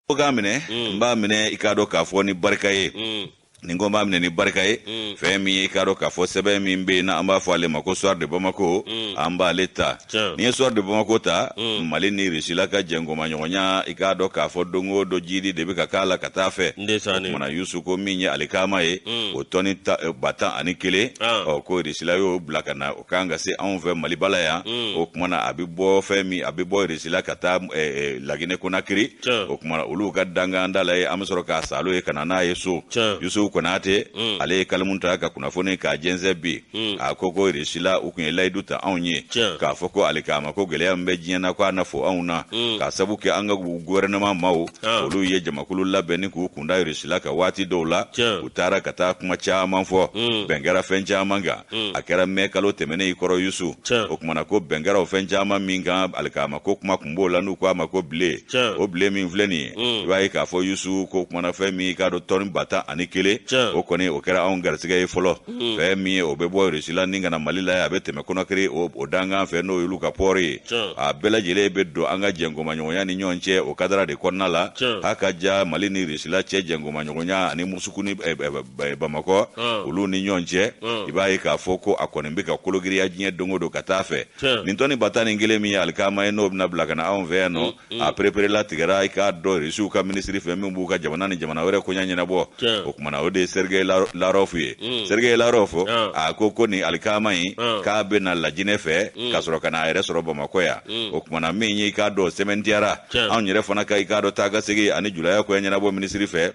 ko k'a minɛ n b'a minɛ i k'a dɔn k'a fɔ ni barika ye nin ko n b'a minɛ ni barika ye fɛn min ye i k'a dɔn k'a fɔ sɛbɛn min bɛ yen na an b'a fɔ ale ma ko soir de bamako an b'ale ta n'i ye soir de bamako ta mali ni rusila ka jɛnkomaɲɔgɔnya i k'a dɔn k'a fɔ don o don jiidi de bɛ ka k'a la ka taa fɛ kumana yusu ko min ye alikaama ye o tɔni ba tan ani kelen ɔ ko rusila y'o bila ka na kan ka se anw fɛ maliba la yan mm. o kumana a bɛ bɔ fɛn min a bɛ bɔ rusila ka taa eh, eh, lagine konakiri o kumana olu ka dankan da la ye an bɛ sɔrɔ k'a salo ye ka na n'a ye so yusufu konate mm. ale ye kalimu ta ka kunnafoni k'a jɛnsɛn bi mm. a ko ko rusila u tun ye layidu ta anw ye k'a fɔ ko alikaama ko gɛlɛya min bɛ diɲɛ na ko a na fɔ anw na k'a sabu kɛ an ka gouvernement maaw olu ye jamakulu labɛn ni k'u kunda rusila kan waati dɔw la u taara ka taa kuma caman fɔ bɛn kɛra fɛn caman kan hmm. a kɛra mɛ kalo tɛmɛnen in kɔrɔ yusu o kumana ko bɛn kɛra o fɛn caman min kan alikaama ko kuma kun b'o la n'u ko a ma ko bile o bile min filɛ nin ye hmm. i b'a ye k'a fɔ yusu ko kumana fɛn min i k'a dɔn tɔni ba tan ani kelen o kɔni o kɛra anw garisigɛ ye fɔlɔ hmm. fɛn min ye o bɛ bɔ rusila ni ka na mali la ye a bɛ tɛmɛ konakiri o dankan fɛ n'o y'olu ka pɔɔri ye a bɛɛ lajɛlen bɛ don an ka jɛnkomaɲɔgɔnya ni ɲɔgɔn cɛ o kadara de kɔnɔna la h'a ka ja mali ni rusila cɛ jɛnkomaɲɔgɔnya ani musuku ni eh, eh, bamakɔ olu ni ɲɔgɔn cɛ i b'a ye k'a fɔ ko a kɔni bɛ ka kologiriya diɲɛ don o don ka taa fɛ nin tɔni ba tan ni kelen min ye alikaama ye n'o bɛna bila ka na anw fɛ yan nɔ a pereperelatigɛra i k'a dɔ irisiw ka minisiri fɛ min b'u ka jamana ni jamana wɛrɛ koɲa ɲɛnabɔ o tumana o de ye sergueï lavrov ye sergueï lavrov a ko ko nin alikaama in k'a bɛ na lajinɛ fɛ ka sɔrɔ ka na a yɛrɛ sɔrɔ bamakɔ yan o tumana min ye i k'a dɔn sɛmɛntiyara anw yɛrɛ fana ka i k'a dɔn taa ka segin ani julaya koɲa ɲɛnabɔ minisiri fɛ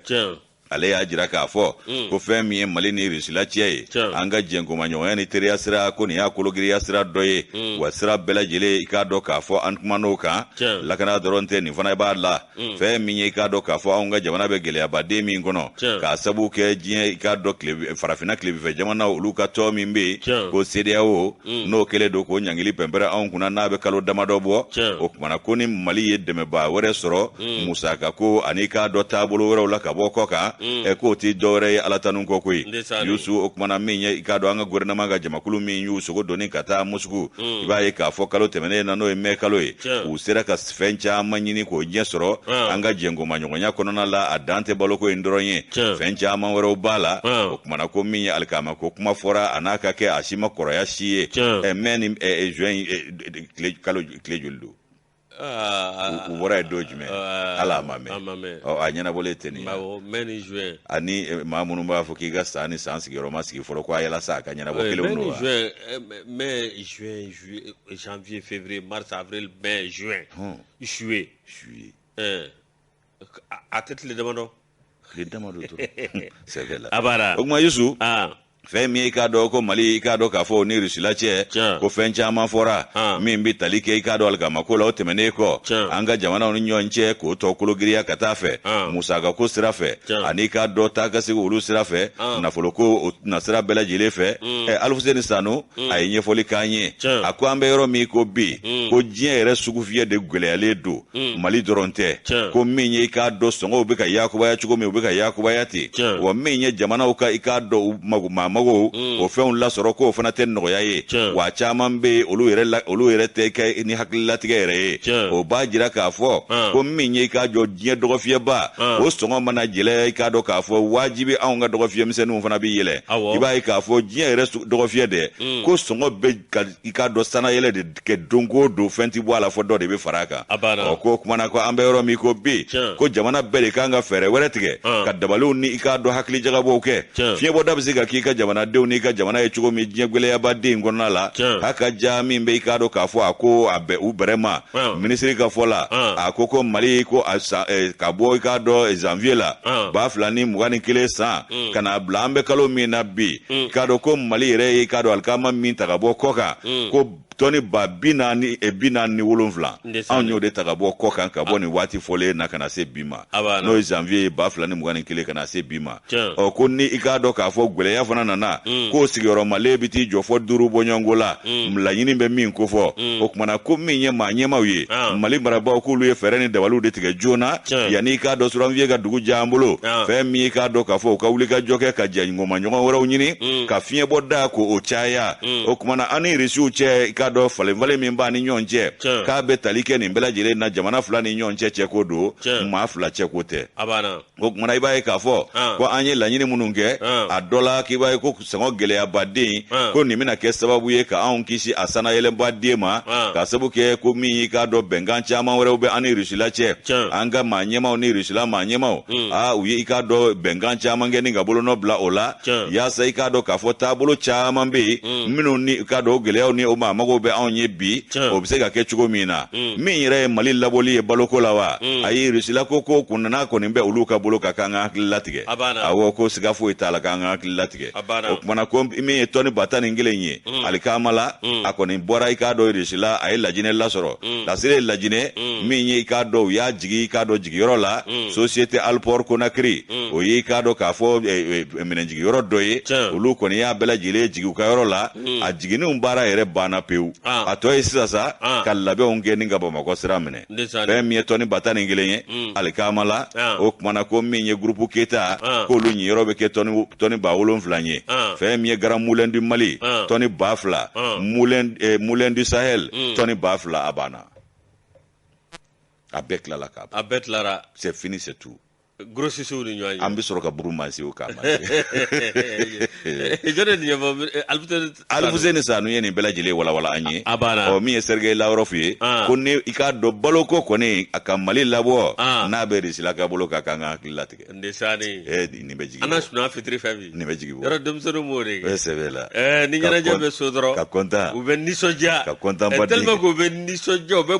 ale y'a jira k'a fɔ mm. ko fɛn min ye mali ni rusila cɛ ye an ka jɛnkomaɲɔgɔnya ni teriya sira ko nin y'a kologiriya sira dɔ ye mm. wa sira bɛɛ lajɛlen i k'a dɔn k'a fɔ an kuman'o kan lakana dɔrɔn tɛ nin fana b'a la mm. fɛn min ye i k'a dɔn k'a fɔ anw ka jamana bɛ gɛlɛyaba de min kɔnɔ k'a sabu kɛ diɲɛ i k'a dɔn tile farafinna tilebifɛ jamana olu ka tɔn min bɛ yen ko sedeyawo mm. n'o kɛlen don k'o ɲangili pɛnpɛrɛ anw kunna n'a bɛ kalo damadɔ bɔ o tumana ko ni mali ye dɛmɛbaa wɛrɛ sɔrɔ mm. musaka ko ani i k'a dɔn taabolo wɛrɛw la ka bɔ kɔkan mm. ɛ k'o tɛ dɔwɛrɛ ye ala tanu kɔ koyi yusu o tumana min ye i k'a dɔn an ka gouvernement ka jamakulu min y'u sogo doni ka taa musuku i b'a ye k'a fɔ kalo tɛmɛnen na n'o ye mɛ kalo ye u sera ka fɛn caman ɲini k'o ɲɛ sɔrɔ ah. an ka jɛnkomaɲɔgɔnya kɔnɔna la a dan tɛ baloko in dɔrɔn ye fɛn caman wɛrɛw b'a la ah. o kumana ko min ye alikaama ko kuma fɔra a n'a ka kɛ a si ma kɔrɔya si ye eh, mɛ ni eh, eh, juin kalo tile joli don ah. u bɔra yen don jumɛn ala a ma mɛɛn a ɲɛnabɔlen tɛ nin ye ani maa minnu b'a fɔ k'i ka san ni san sigiyɔrɔ ma sigi fɔlɔ ko a yɛlɛ sa a ka ɲɛnabɔ kelen don wa janvier février mars avril mai juin. Hmm. juillet. juillet. Eh, a tɛ tile damadɔ. tile damadɔ dɔrɔn c'est vrai la. a b'a la o tuma Yusu. Ah. fɛn min ye i k'a dɔn ko mali i k'a dɔn k'a fɔ o ni rusila cɛ ko fɛn caman fɔra ah. min bɛ tali kɛ i k'a dɔn alikamako la o tɛmɛnen kɔ an ka jamanaw ni ɲɔgɔn cɛ k'o tɔ kologirinya ka taa fɛ ah. musakako sira fɛ ani k'a dɔn taa ka segin olu sira fɛ ah. nafoloko o nasira bɛɛ lajɛlen fɛ mm. ɛ alifuseni sanu a ye ɲɛfɔli k'an ye a ko an bɛ yɔrɔ min ko bi ko diɲɛ yɛrɛ sugufiyɛ de gwɛlɛyalen don mali dɔrɔn tɛ ko min ye i k'a dɔn sɔngɔw bɛ ka yakubaya cogo min u bɛ ka yakubaya ten wa min ye jamanaw ka i k'a dɔn u maamago o fɛnw lasɔrɔ k'o fana tɛ nɔgɔya ye wa caman bɛ olu yɛrɛ olu yɛrɛ tɛ kɛ ni hakililatigɛ yɛrɛ ye o b'a jira k'a fɔ ko min ye i k'a dɔn diɲɛ dɔgɔfiyɛba o sɔngɔ mana gɛlɛya i k'a dɔn k'a fɔ wajibi anw ka dɔgɔfiyɛmisɛnninw fana bɛ yɛlɛ i b'a ye k'a fɔ diɲɛ yɛrɛ dɔgɔfiyɛ de mm. ko sɔngɔ bɛ ka i k'a dɔn sanayɛlɛ de kɛ don o don fɛn tɛ bɔ a la fɔ dɔ de bɛ fara a kan ɔ ko kumana ko an bɛ yɔrɔ min ko bi ko jamana bɛɛ de kan ka fɛɛrɛ wɛrɛ tigɛ ah. ka dabaliw ni i k'a dɔn hakili jagabɔw kɛ fiɲɛbɔda bɛ se ka k'i ka jamanadenw n'i ka jamana ye cogo min diɲɛ gwɛlɛyabaden kɔnɔna la a ka ja min bɛ i k'a dɔn k'a fɔ a ko a bɛ u bɛrɛ ma ah. minisiri ka fɔ la ah. a ko ko mali ko a sa eh, ka bɔ i k'a dɔn eh, janvier la ba fila ni mugan ni kelen san mm. ka na bila an bɛ kalo min na bi mm. k'a dɔn ko mali yɛrɛ ye k'a dɔn alikama min ta ka bɔ kɔkan mm. ko tɔni ba bi naani eh, bi naani ni wolonwula anw y'o de ta ka bɔ kɔkan ka bɔ ah. nin waati fɔlen na ka na se bi ma n'o ye janvier ye ba fila ni mugan ni kelen ka na se bi ma ɔ ko ni i k'a dɔn k'a fɔ gwɛlɛya fana nana mm. k'o sigiyɔrɔmalen bɛ t'i jɔ fo duuru bɔɲɔgɔnko la mm. laɲini bɛ min kofɔ mm. o tuma na ko min ye maa ɲɛmaaw ye ah. mali marabaaw k'olu ye fɛɛrɛ ni dabaliw de tigɛ joona yanni i k'a dɔn suranfiye ka dugu diya an bolo ah. fɛn min i k'a dɔn k'a fɔ u ka wulikajɔ kɛ ka jɛ o ma ɲɔgɔn wɛrɛw ɲini mm. ka fiɲɛbɔda ko o caya mm. o kumana an ni risiw cɛ i k'a dɔn falenfalen min b'an ni ɲɔgɔn cɛ k'a bɛ tali kɛ nin bɛɛ lajɛlen na jamana fila ni ɲɔgɔn cɛ cɛko don maa fila cɛko tɛ o kumana i b'a ye k'a fɔ ah. ko an ye laɲini minnu kɛ ah. a dɔ la k'i b'a ye ko sɔngɔ gɛlɛyabaden ah. ko nin bɛna kɛ sababu ye ka anw kisi a sanayɛlɛnbaden ma ka sabu kɛ ko min y'i k'a dɔn bɛnkan caman wɛrɛw bɛ an ni risila cɛ an ka maa ɲɛmaaw ni risila maa ɲɛmaaw mm. a ah, u ye i k'a dɔn bɛnkan caman kɛ ni ka bolonɔ bila o la yaasa i k'a dɔn k'a fɔ taabolo caman bɛ yen mm. minnu ni i k'a dɔn o gɛlɛyaw ni o maamagow bɛ anw ye bi o bɛ se ka kɛ cogo min na mm. min yɛrɛ ye mali labɔli ye baloko la wa mm. ayi rusila ko ko kun nana kɔni bɛ olu ka bolo kan k'an ka hakili latigɛ awɔ ko siga foyi t'a la k'an ka hakili latigɛ o kumana ko min ye tɔni ba tan ni kelen ye mm. alikaama la mm. a kɔni bɔra i k'a dɔn irisila a ye lajinɛ lasɔrɔ mm. lasiri ye lajinɛ min ye i k'a dɔn u y'a jigi i k'a dɔn jigiyɔrɔ la société alport conakry o ye i k'a dɔn k'a fɔ eh, eh, eh, minɛnjigiyɔrɔ dɔ ye olu kɔni y'a bɛɛ lajɛlen jigi u ka yɔrɔ la a jiginni baara yɛrɛ banna pewu ah. a tɔ ye sisan sa ah. ka labɛnw kɛ ni ka bamakɔ sira minɛ fɛn min ye tɔni ba tan ni kelen ye mm. alikaama la ah. o kumana ko min ye groupe keita ah. k'olu ɲiyɔrɔ bɛ kɛ tɔni ba wolonfila ye ah. fɛn min ye grand moulin du mali tɔni ba fila moulin eh, du sahel mm. tɔni ba fila a banna a bɛɛ tilala ka ban a bɛɛ tilara c'est fini c'est tout Gosisiww ni ɲɔgɔn an bɛ sɔrɔ ka buru masiw ko Alfuseni Sanu ye nin bɛɛ lajɛlen walawala an ye a min ye Sergei Lavrov ye ko ni i k'a dɔn baloko kɔni a ka mali labɔ n'a bɛ irisila ka bolo kan k'an ka hakili latigɛ n nin bɛ jigin an sun fitiri fɛn nin bɛ jigin yɔrɔ denmisɛnnin wo sɛ la ni ɲɛnajɛ bɛ so dɔrɔn ka kɔntan u bɛ nisɔndiya ka kɔntan k'u bɛ nisɔndiya bɛ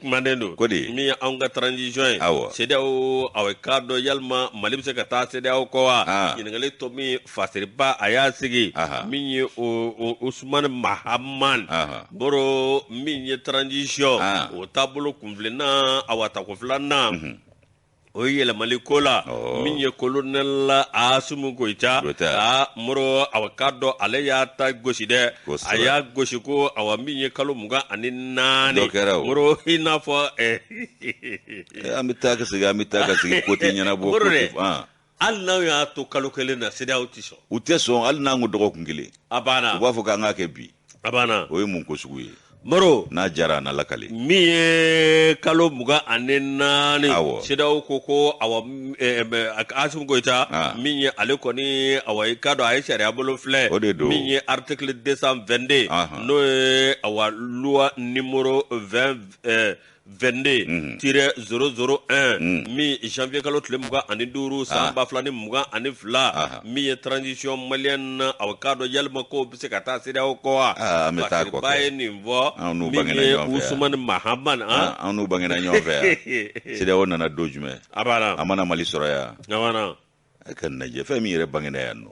kumanen don ko di min ye anw ka transition ye awɔ CEDEAO awa k'a dɔn yalima mali bɛ se ka taa CEDEAO kɔ wa ah. ɲininkali tomi fasiriba a y'a sigi min ye o Usumani Mahaman Moro min ye transition ah. o taabolo kunfilenna awa tako filanan mhm. o ye yɛlɛmali ko la oh. min ye kolonɛl asimi goyita a moro awa k'a dɔn ale y'a ta gosi dɛ a y'a gosi ko awa min ye kalo mugan ani naani moro i n'a fɔ eh, an bɛ taa ka segin an bɛ taa ka segin ko tɛ ɲɛnabɔ moro dɛ hali n'aw y'a to kalo kelen na CEDEAO tɛ sɔn u tɛ sɔn hali n'an ko dɔgɔkun kelen a banna u b'a fɔ k'an k'a kɛ bi a banna o ye mun ko sugu ye Moro n'a jara a na lakale min ye kalo mugan ani naani awɔ CEDEAO ko ko awa eh, eh, Asimi Goyita ah. min ye ale kɔni awa i k'a dɔn a ye sariya bolo filɛ o de don min ye article 222 n'o ye awa loi numéro 20 eh, 22 tiret 001 min janvier kalo tile mugan ani duuru san ah. ba fila ni mugan ani fila ah. min ye transition malienne na aw k'a dɔn yalima ko bɛ se ka taa CEDEAO kɔ wa ah, masiriba ye nin fɔ min ye Usumani Mahamani an n'u bangena ɲɔgɔn fɛ yan CEDEAO nana don jumɛn a b'a la a mana Mali sɔrɔ yan a b'a la a ka lajɛ fɛn min yɛrɛ bangena yan nɔ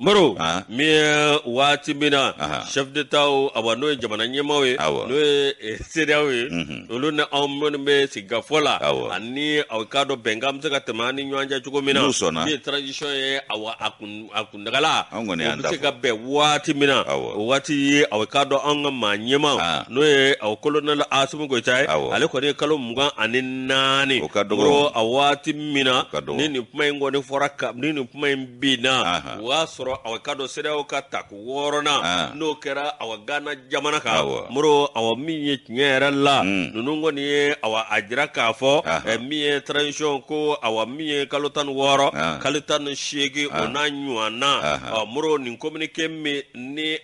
moro ah. min ye waati min na chef d'etat awa n'o ye jamana ɲɛmaaw ye n'o ye eh, CEDEAO ye mhm. olu ni anw minnu bɛ sigikafɔ la ani aw k'a dɔn bɛnkan bɛ se ka tɛmɛ an ni ɲɔgɔn cɛ cogo min na n'u sɔnna min ye transition ye awa a kun a kun Dagala an kɔni y'an bɛ se ka bɛn waati min na o waati ye awa k'a dɔn an ka maa ɲɛma n'o ye awa colonel asimi goita ye ale kɔni ye kalo mugan ani naani o ka dɔgɔ a waati min na ka don ni nin kuma in kɔni fɔra ka ni nin kuma in binna o y'a sɔrɔ awa k'a dɔn CEDEAO ka tako wɔɔrɔnan n'o kɛra awa gana jamana kan moro awa min ye tiɲɛ yɛrɛ la ninnu kɔni ye awa a jira k'a fɔ min ye transition ko awa min ye kalo tan ni wɔɔrɔ kalo tan ni seegin o n'a ɲɔgɔnna moro nin communiqué min ni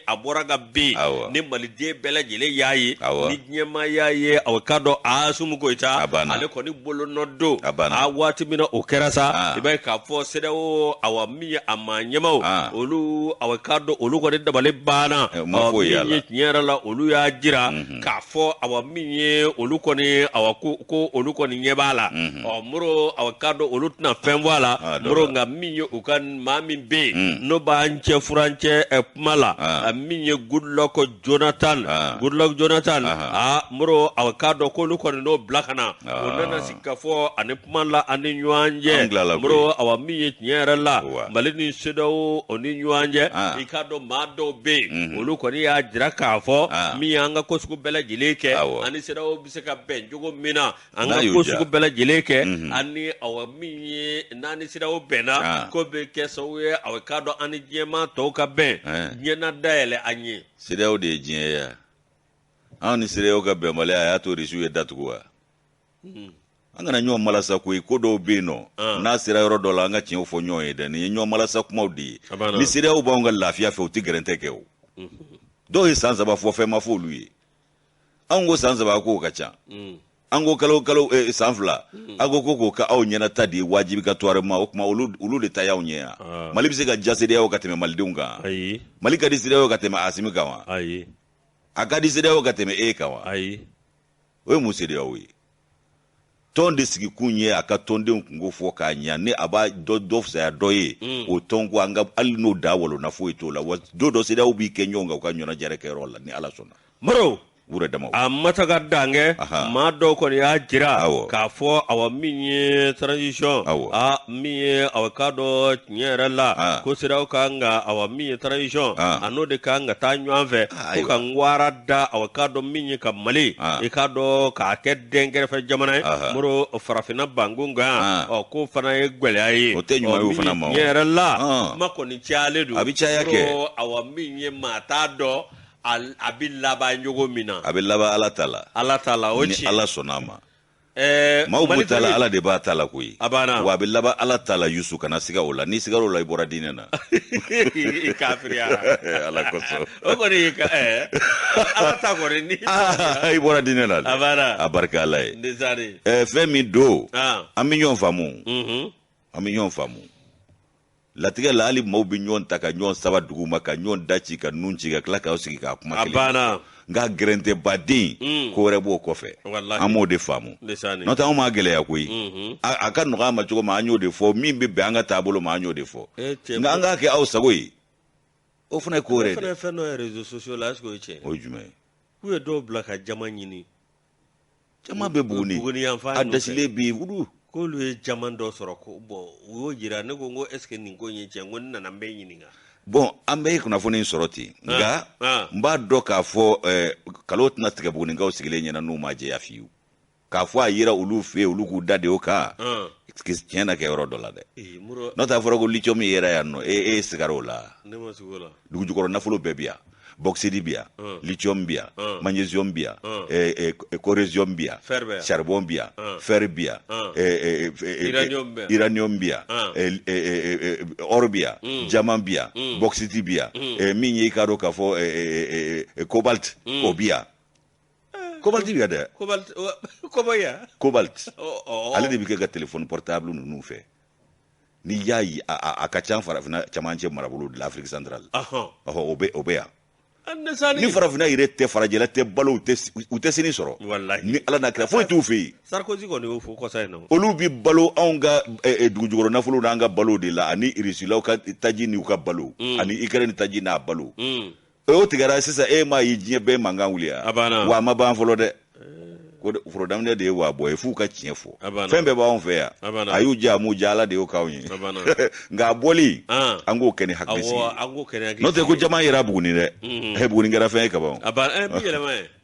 a bɔra ka bin ni maliden bɛɛ lajɛlen y'a ye ni diɲɛmaa y'a ye awa k'a dɔn asimi goita ale kɔni bolonɔ don a waati min na o kɛra sa i b'a ye k'a fɔ CEDEAO awa min ye a maa ɲɛmaaw olu awa k'a dɔn olu kɔni dabali banna awa min ye tiɲɛ yɛrɛ la olu y'a jira k'a fɔ awa min ye olu kɔni awa ko ko olu kɔni ɲɛ b'a la ɔ moro awa k'a dɔn olu tɛna fɛn bɔ a la Ah, dɔ moro la. nka min ye u ka maa min bɛ yen n'o b'an cɛ furancɛ ɛ, kuma la Ah. a min ye goodluck jonathan Ah. goodluck jonathan Aha. a moro awa k'a dɔn k'olu kɔni n'o bila ka na o Aa. nana sigi ka fɔ ani kuma la an ni ɲɔgɔn cɛ moro awa min ye tiɲɛ yɛrɛ la mali ni CEDEAO ni ɲɔgɔn cɛ ah. i k'a dɔn maa dɔw bɛ yen mhm. olu kɔni y'a jira k'a fɔ ah. min ye an ka ko sugu bɛɛ lajɛlen kɛ an ni CEDEAO bɛ se ka bɛn cogo min na an ka ko sugu bɛɛ lajɛlen kɛ mhm. ani awa min ye n'an ni CEDEAO bɛnna ah. k'o bɛ kɛ sababu ye awa k'a dɔn an ni diɲɛmaa tɔw ka bɛn eh. diɲɛ na dayɛlɛ an ye CEDEAO de ye diɲɛ ye anw ni CEDEAO ka bɛnbaliya a y'a to risiw ye da tugu wa hmm. an kana ɲɔgɔn malasa koyi ko dɔw bɛ yen nɔ ah. n'a sera yɔrɔ dɔ la an ka tiɲɛw fɔ ɲɔgɔn ye dɛ nin ye ɲɔgɔn malasa kumaw de ye ni CEDEAO b'anw ka lafiya fɛ u tɛ gɛrɛntɛ kɛ o hmm. dɔw ye san saba fɔ fɛn ma fɔ olu ye anw ko san saba k'o ka ca hmm. an ko kalo kalo eh, san fila a ko ko k'o ka aw ɲɛnata de ye wajibigatoirement o tuma olu de ta y'aw ɲɛ yan ah. mali bɛ se ka diya CEDEAO ka tɛmɛ malidenw kan mali ka di CEDEAO ka tɛmɛ asimi kan wa a ka di CEDEAO ka tɛmɛ e kan wa o ye mun CEDEAO ye tɔn de sigikun ye a ka tɔndenw kunko fɔ k'a ɲa ni a b'a dɔ dɔ fisaya dɔ ye mm. o tɔn ko an ka hali n'o da walonna foyi t'o la wa don dɔ CEDEAO b'i kɛ ɲɔgɔn kan u ka ɲɔgɔnnajɛrɛ kɛyɔrɔ la ni ala sɔnna maro wure dama a mataga dankɛ maa dɔw kɔni y'a jira k'a fɔ awa min ye transition awa min ye awa k'a dɔ tiɲɛ yɛrɛ la ah. ko CEDEAO ka kan ka awa min ye transition ah. a n'o de ka kan ka taa ɲɔgɔn fɛ ah, ko ka wara da awa k'a dɔn min ye ka mali i k'a dɔn k'a kɛ dan kɛrɛfɛ jamana ye moro farafinna banku kan ɔ k'o fana ye gɛlɛya ye o tɛ ɲuman fana ma tiɲɛ yɛrɛ la kuma kɔni cayalen don a bɛ caya kɛ awa min ye maa t'a dɔn a bɛ laban cogo min na a bɛ laban ala ta la ala ta la o ni ala sɔnna a ma Eh, maaw b'u ta la ala de b'a ta la koyi a banna wa a bɛ laban ala ta la yusu kana siga o la n'i sigara o la i bɔra diinɛ na i kafiriyara eh, ala kosɔn o kɔni eh, ala ta kɔni ni ah, i bɔra diinɛ na a banna a barika ala ye fɛn min don ah. an bɛ ɲɔgɔn faamu mhm. an bɛ ɲɔgɔn faamu latigɛ la hali maaw bɛ ɲɔgɔn ta ka ɲɔgɔn saba dugu ma ka ɲɔgɔn da ci ka nun ci ka tila k'aw sigi ka kuma kɛlɛ banna nka gɛrɛntɛ baden mm. ko wɛrɛ b'o kɔfɛ an b'o de faamu n'o tɛ anw m'a gɛlɛya koyi mm-hmm. a ka nɔgɔ an ma cogo ma an y'o de fɔ min bɛ bɛn an ka taabolo ma an y'o de fɔ eh, nka an k'a kɛ aw sago ye o fana ye ko wɛrɛ ye dɛ o ye fɛn dɔ ye réseaux sociaux la est-ce que o ye tiɲɛ ye o ye jumɛn ye k'u ye dɔw bila ka jaman ɲini jaman bɛ buguni buguni yan fan a ninnu fɛ. dɛsɛlen bɛ yen wulu k'olu ye jaman dɔ sɔrɔ ko bon u y'o jira ne ko n ko est ce que nin ko in ye tiɲɛ n ko n nana n bɛ ɲininka bon an bɛ kunnafoni in sɔrɔ ten nka ah. n b'a dɔn k'a fɔ eh, nkalon tɛna tigɛ bugunikaw sigilen ɲɛ na n'u m'a jɛya fiyewu k'a fɔ a yera olu fɛ yen olu k'u da de o kan Ah. tiɲɛ na kɛ yɔrɔ dɔ la dɛ Ee, muro n'o tɛ a fɔra ko lithium yera yan nɔ e e sigara o la ne ma siga o la dugujukɔrɔ nafolo bɛɛ bɛ yan bɔksidi bɛ yan lithium bɛ yan magnesium bɛ yan coresium bɛ yan charbon bɛ yan fer bɛ yan uranium bɛ yan or bɛ yan jaman bɛ yan bɔksidi bɛ yan min ye i k'a dɔn k'a fɔ cobalt o bɛ yan kobalti bɛ yan dɛ kobalti ale de bɛ kɛ ka telefɔni portable ninnu fɛ n'i y'a ye a ka ca farafinna camancɛ marabolo de la afrique centrale o bɛ o bɛ yan ni farafinna yɛrɛ tɛ farajɛla tɛ balo u tɛ sini sɔrɔ ni ala n'a kira foyi t'u fɛ yen sarikosi kɔni y'o fɔ kɔsa in na olu bɛ balo anw ka dugujukɔrɔ nafolo n'an ka balo de la ani irisilaw ka taji n'u ka balo ani ikrɛni taji n'a balo o tigɛra sisan e m'a ye diɲɛ bɛɛ mankan wulila wa a ma ban fɔlɔ dɛ ko foro daminɛ de ye wa bɔ yen f'u ka tiɲɛ fɔ fɛn bɛɛ b'anw fɛ yan a y'u diya a m'u diya ala de y'o k'anw ye nka a bɔli an k'o kɛ ni hakili sigi n'o tɛ ko jaman yera buguni dɛ buguni kɛra fɛn ye kaban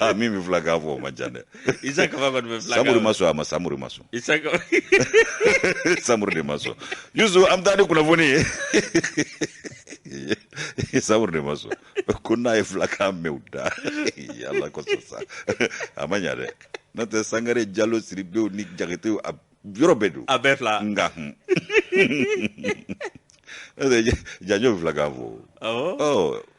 Ah, min bɛ filakan fɔ o ma jan dɛ isa kaba kɔni bɛ fila samuru ma sɔn a ma samuru ma sɔn isa samuru de ma sɔn yusu an bɛ taa ni kunnafoni ye samuru de ma sɔn ko n'a ye filakan mɛn u da ala kosɔn sa a ma ɲa dɛ n'o tɛ sangare jalo sidibew ni jakitew a yɔrɔ bɛɛ don a bɛɛ fila nga hun jajo filakan fɔ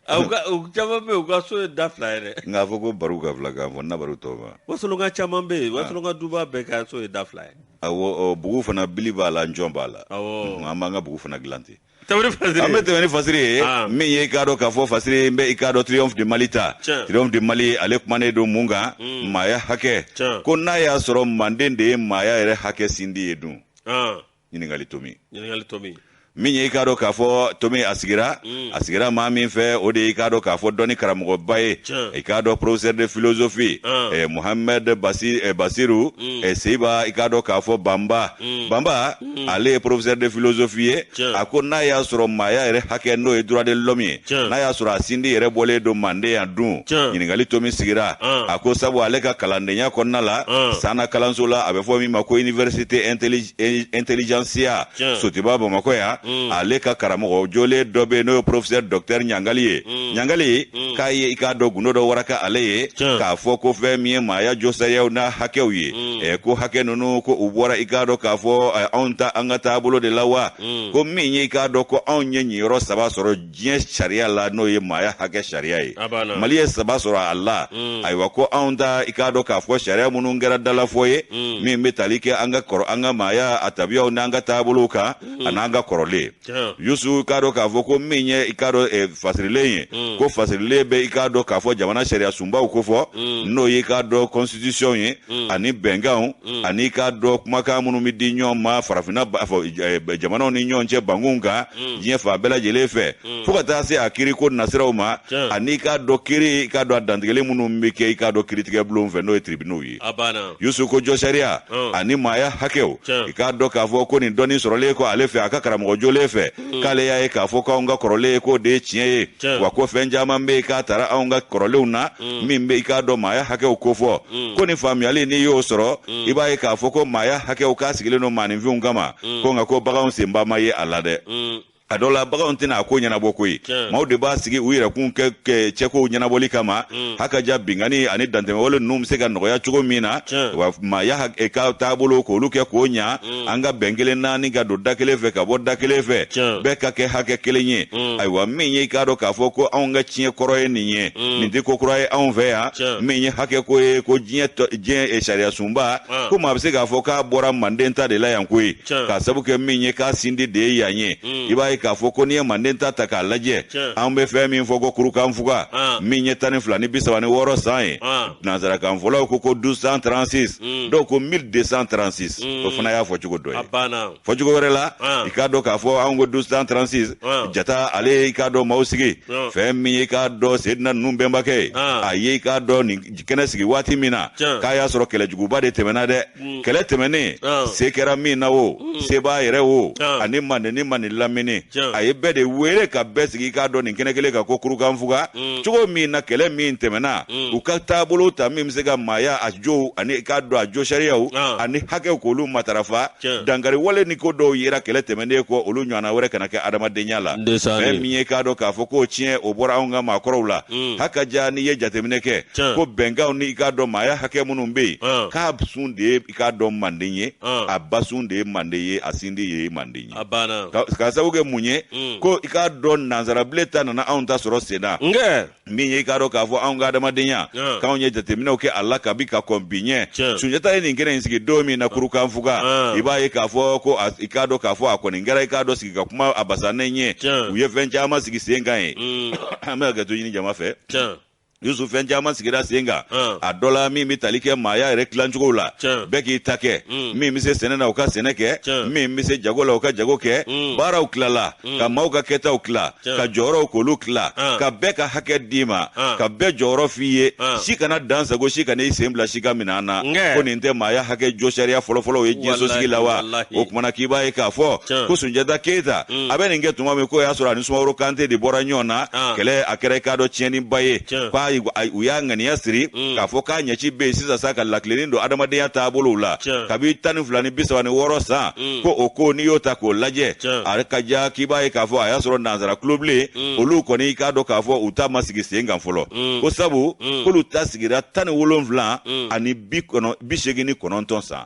awɔ caman bɛ yen u ka so ye da fila ye dɛ nka a fɔ ko baru ka filakan fɔ n'a baru tɔ ma wasolonka caman bɛ yen wasolonka duba bɛɛ ka so ye da fila ye awɔ bugu fana bili b'a la njɔn b'a la awɔ an b'an ka bugu fana dilan ten Tarawele Fasiri. An bɛ tɛmɛ ni Fasiri ye. Aa. Min ye i k'a dɔn k'a fɔ Fasiri n bɛ i k'a dɔn Triomphe de Mali ta. Tiɲɛ. Triomphe de Mali ale kumanen don mun kan. Maaya hakɛ. Tiɲɛ. Ko n'a y'a sɔrɔ Manden de ye maaya yɛrɛ hakɛ sindi ye dun? Aa. Ɲininkali tomi. Ɲininkali tomi. Min ye i k'a dɔn k'a fɔ tomi a sigira. A sigira maa min fɛ o de ye i k'a dɔn k'a fɔ dɔnni karamɔgɔba ye. Tiɲɛ. I k'a dɔn professeur de philosophie. Aa. eh, Mohamed Basi- eh, Basiru eh, Seyiba i k'a dɔn k'a fɔ Banba. Banba. ale ye professeur de philosophie ye Tiɲɛ. a ko n'a y'a sɔrɔ maaya yɛrɛ hakɛ n'o ye droit de l'homme ye Tiɲɛ. n'a y'a sɔrɔ a sindi yɛrɛ bɔlen don manden yan dun Tiɲɛ. ɲininkali tomi sigira An. a ko sabu ale ka kalandenya kɔnɔna la An. sanna kalanso la a bɛ fɔ min ma ko université intelli- eh, intelligentsia Tiɲɛ. sotiba bamakɔ yan Mm. ale ka karamɔgɔ jolen dɔ bɛ yen n'o ye professeur docteur ɲangali ye Mm. ɲangali Mm. k'a ye i k'a dɔn gundo dɔ waraka ale ye Tiɲɛ. k'a fɔ ko fɛn min ye maaya josariyaw n'a hakɛw ye mm. eh, ko hakɛ ninnu ko u bɔra i k'a dɔn k'a fɔ eh, anw ta an ka taabolo de la wa mm. ko min ye i k'a dɔn ko anw ye ɲiyɔrɔ saba sɔrɔ diɲɛ sariya la n'o ye maaya hakɛ sariya ye mali ye saba sɔrɔ a la mm. ayiwa ko anw ta i k'a dɔn k'a fɔ sariya minnu kɛra dalafɔ ye mm. min bɛ tali kɛ an ka kɔrɔ an ka maaya a tabiyaw n'an ka taabolow kan mm. an'an ka kɔrɔlen Tiɲɛ. yusu i k'a dɔn k'a fɔ ko min ye i k'a dɔn eh, fasirilen ye Mm. ko fasirilen bɛ i k'a dɔn k'a fɔ jamana sariya sunbaw kofɔ Mm. n'o ye i k'a dɔn constitution ye Mm. ani bɛnkanw Mm. ani i k'a dɔn kumakan minnu bɛ di ɲɔgɔn ma farafinna ba- fɔ, eh, bɛ- jamanaw ni ɲɔgɔn cɛ bankunw kan Mm. diɲɛ fan bɛɛ lajɛlen fɛ Mm. fo ka taa se a kiri ko nasiraw ma Tiɲɛ. ani i k'a dɔn kiri i k'a dɔn a dantigɛli minnu bɛ kɛ i k'a dɔn kiritigɛbulonw fɛ n'o ye tribunaux ye a banna yusu ko jɔsariya Ɔn. ani maaya hakɛw Tiɲɛ. i k'a dɔn k'a fɔ ko nin dɔnni sɔrɔlen kɔ ale fɛ a ka karamɔgɔ jolen fɛ k'ale y'a ye k'a fɔ k'anw ka kɔrɔlen ye k'o de ye tiɲɛ ye Tiɲɛ. wa ko fɛn caman bɛ yen k'a tara anw ka kɔrɔlenw na min bɛ i k'a dɔn maaya hakɛw kofɔ ko nin faamuyali n'i y'o sɔrɔ i b'a ye k'a fɔ ko maaya hakɛw k'a sigilen don maaninfinw kama ko nka ko baganw senba ma ye a la dɛ Mm, a dɔ la baganw tɛna a ko ɲɛnabɔ koyi maaw de b'a sigi u yɛrɛkun kɛ cɛkow ɲɛnabɔli kama mm. hakaja binkanni ani dantɛmɛwale ninnu bɛ se ka nɔgɔya cogo min na wa maaya e ka taabolo k'olu kɛ k'o ɲa mm. an ka bɛn kelen na ani ka don da kelen fɛ ka bɔ da kelen fɛ bɛɛ ka kɛ hakɛ kelen ye mm. ayiwa min ye i k'a dɔn k'a fɔ ko anw ka tiɲɛ kɔrɔ ye nin ye nin tɛ ko kura ye anw fɛ yan min ye hakɛ ko ye ko diɲɛ diɲɛ e sariyasunba ah. ko maa bɛ se k'a fɔ k'a bɔra manden ta de la yan koyi k'a sabu kɛ min ye k'a sindi de ye yan ye mm. i b'a ye k'a fɔ ko n'i ye manden ta ta k'a lajɛ an bɛ fɛn min fɔ ko kurukanfuga ah. min ye tan ni fila ni bi saba ni wɔɔrɔ san ye ah. nansarakan fɔlaw ko ko 1236 mm. dɔw ko 1236 mm. o fana y'a fɔ cogo dɔ ye fɔ cogo wɛrɛ la ah. i k'a dɔn k'a fɔ anw ko 1236 jata ale ye i k'a dɔn maaw sigi fɛn min ye i k'a dɔn sedina ninnu bɛnbakɛ ye a ye i k'a dɔn nin kɛnɛ sigi waati min na k'a y'a sɔrɔ kɛlɛjuguba de tɛmɛna dɛ mm. kɛlɛ tɛmɛnen ah. se kɛra min na o mm. sebaa yɛrɛ o ah. ani manden ni manden lamini a ye bɛɛ de wele ka bɛɛ sigi i k'a dɔn nin kɛnɛ kelen kan ko kurukanfuga mm. cogo min na kɛlɛ min tɛmɛna u ka taabolo ta min bɛ se ka maaya a jow ani i k'a dɔn a jo sariyaw ah. ani hakɛw k'olu matarafa dankari wale ni ko dɔw yera kɛlɛ tɛmɛnen kɔ olu ɲɔgɔnna wɛrɛ kana kɛ adamadenya la fɛn min ye i k'a dɔn k'a fɔ k'o tiɲɛ o bɔra anw ka maakɔrɔw la hakaja n'i ye jateminɛ kɛ ko bɛnkanw ni i k'a dɔn maaya hakɛ minnu bɛ yen k'a sun de ye i k'a dɔn manden ye a ba sun de ye manden ye a sindi ye manden ye k'a sababu kɛ mun ye mm. ko i k'a dɔn nansarabilen ta nana anw ta sɔrɔ sen na min ye i k'a dɔn k'a fɔ anw ka adamadenya k'anw ye jateminɛw kɛ a la kabi ka kɔn bi ɲɛ sunjata ye nin kɛnɛ in sigi don min na kurukanfuga i b'a ye k'a fɔ ko i k'a dɔn k'a fɔ a kɔni kɛra i k'a dɔn sigi ka kuma a basannen ye u ye fɛn caman sigi sen kan yen mm. an bɛ hakɛto ɲini jama fɛ yusu fɛn caman sigira sen kan a dɔ la min bɛ tali kɛ maaya yɛrɛ tilacogo la bɛɛ k'i ta kɛ mm. min bɛ se sɛnɛ na u ka sɛnɛ kɛ min bɛ se jago la u ka jago kɛ mm. baaraw tilala mm. ka maaw ka kɛtaw tila ka jɔyɔrɔw k'olu tila ka bɛɛ ka hakɛ d'i ma ka bɛɛ jɔyɔrɔ f'i ye si kana dan sagon si kana i sen bila si ka minɛn na ko nin tɛ maaya hakɛ jo sariya fɔlɔfɔlɔ ye diɲɛ sosigi la wa o tuma na k'i b'a ye k'a fɔ ko sunjata keyita a bɛ nin kɛ tuma min k'o y'a sɔrɔ a ni sumaworo kante de bɔra ɲɔgɔn na ah. kɛlɛ a kɛra i k'a dɔn tiɲɛniba ye k'a u y'a ŋaniya siri mm. k'a fɔ k'a ɲɛci bɛ yen sisan sa ka latilenni don adamadenya taabolow la kabi tan ni fila ni bi saba ni wɔɔrɔ san mm. ko o ko n'i y'o ta k'o lajɛ a ka ja k'i b'a ye k'a fɔ a y'a sɔrɔ nansara tulobilen mm. olu kɔni i k'a dɔn k'a fɔ u ta ma sigi sen kan fɔlɔ ko sabu k'olu ta sigira tan ni wolonwula ani bi seegin ni kɔnɔntɔn san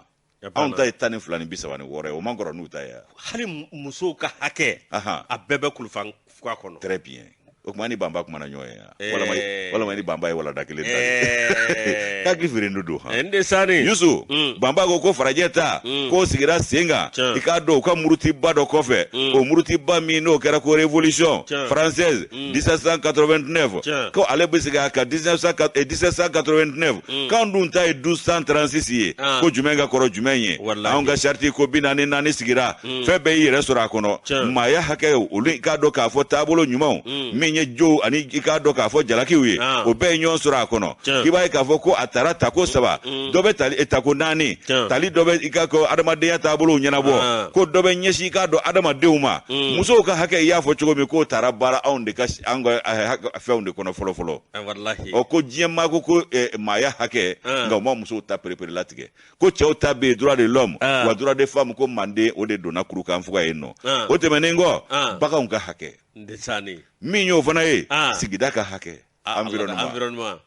anw ta ye tan ni fila ni bi saba ni wɔɔrɔ ye o man kɔrɔ n'u ta ye hali musow ka hakɛ a bɛɛ bɛ kurukanfuga kɔnɔ très bien o tuma ni banba kumana ɲɔgɔn ye yan eh. walama walama ni banba ye walanda kelen ta eh. hakili feerendo don han eh, n de sani yusu mm. banba ko ko farajɛ ta mm. k'o sigira sen kan i k'a dɔn u ka murutiba dɔ kɔfɛ mm. o murutiba min n'o kɛra ko révolution française 1789 ko ale bɛ segin a kan 1789 eh, k'an dun ta ye 1236 ye ah. ko jumɛn ka kɔrɔ jumɛn ye anw ka charte ko bi naani ni naani sigira mm. fɛn bɛɛ y'i yɛrɛ sɔrɔ a kɔnɔ maaya hakɛ olu i k'a dɔn k'a fɔ taabolo ɲumanw mm. min ye jow ani i k'a dɔn k'a fɔ jalakiw ye ah. o bɛɛ ye ɲɔgɔn sɔrɔ a kɔnɔ k'i b'a ye k'a fɔ ko a tara tako saba mm. dɔ bɛ tali eh, tako naani tali dɔ bɛ i ka ko adamadenya taabolow ɲɛnabɔ ah. ko dɔ bɛ ɲɛsin i k'a dɔn adamadenw ma mm. musow ka hakɛ i y'a fɔ cogo min k'o tara baara anw de ka an ka eh, fɛnw de kɔnɔ fɔlɔ fɔlɔ ah, ɔ ko diɲɛ maa ko ko eh, maaya hakɛ ah. nka u ma musow ta perepere latigɛ ko cɛw ta bɛ yen droit de l'homme wa droit des femmes ko manden o de donna kurukanfuga yen nɔ o tɛmɛnen kɔ baganw ka hakɛ min y'o fana ye sigida ka hakɛ Ah, environnement. environnement.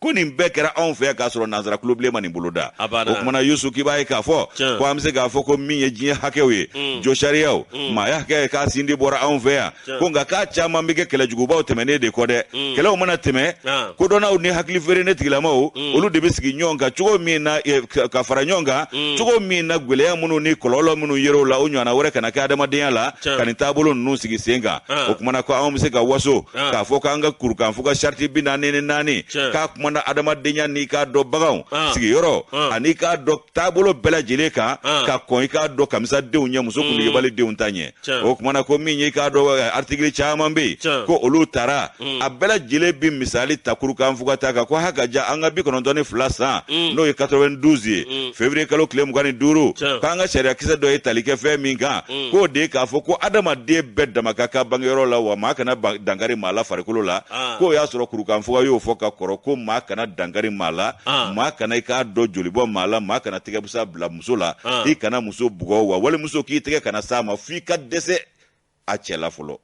ko nin bɛɛ kɛra anw fɛ k'a sɔrɔ nansara kulobilen ma nin bolo da o kumana yusu k'i b'a ye k'a fɔ ko an bɛ se k'a fɔ ko min ye diɲɛ hakɛw ye mm. josariyaw mm. maaya hakɛ ye k'a sindi bɔra anw fɛ yan ko nka k'a caman bɛ kɛ kɛlɛjugubaw tɛmɛnen de kɔ dɛ mm. kɛlɛw mana tɛmɛ ah. kodɔnnaw ni hakili feerenen tigilamaw olu de bɛ sigi ɲɔgɔn kan cogo min na eh, ka fara ɲɔgɔn kan cogo min na gwɛlɛya minnu ni kɔlɔlɔ minnu yer'o la o ɲɔgɔnna wɛrɛ kana kɛ adamadenya la ka nin taabolo ninnu sigi sen kan ah. o kumana ko anw bɛ se ka waso ah. k'a fɔ k'an ka kurukanfuga sariti bi naani ni naani k'a kumana adamadenya n'i k'a dɔn baganw ah. sigiyɔrɔ ah. ani k'a dɔn taabolo bɛɛ lajɛlen kan ka kɔn i k'a dɔn kamisadenw ɲɛ muso kundigibali mm. denw ta ɲɛ o kumana ko min ye i k'a dɔn eh, artikili caman bɛ yen ko olu tara mm. a bɛɛ lajɛlen bi misali ta kurukanfuga ta kan ko ha ka ja an ka bi kɔnɔntɔn ni fila san mm. n'o ye 92 ye fevriye kalo tile mugan ni duuru k'an ka sariyakisɛ dɔ ye tali kɛ fɛn min kan mm. k'o de ye k'a fɔ ko adamaden bɛɛ dama ka kan bangeyɔrɔ la wa maa kana dankari maa la farikolo la ah. k'o y'a sɔrɔ kurukanfuga y'o fɔ ka kɔrɔ ko maa kana dankari maa la ah. maa kana i k'a dɔn joli bɔ maa la maa kana tɛgɛbusan bila muso la ah. i kana muso bugɔ wa walimuso k'i tɛgɛ kana s'a ma f'i ka dɛsɛ a cɛ la fɔlɔ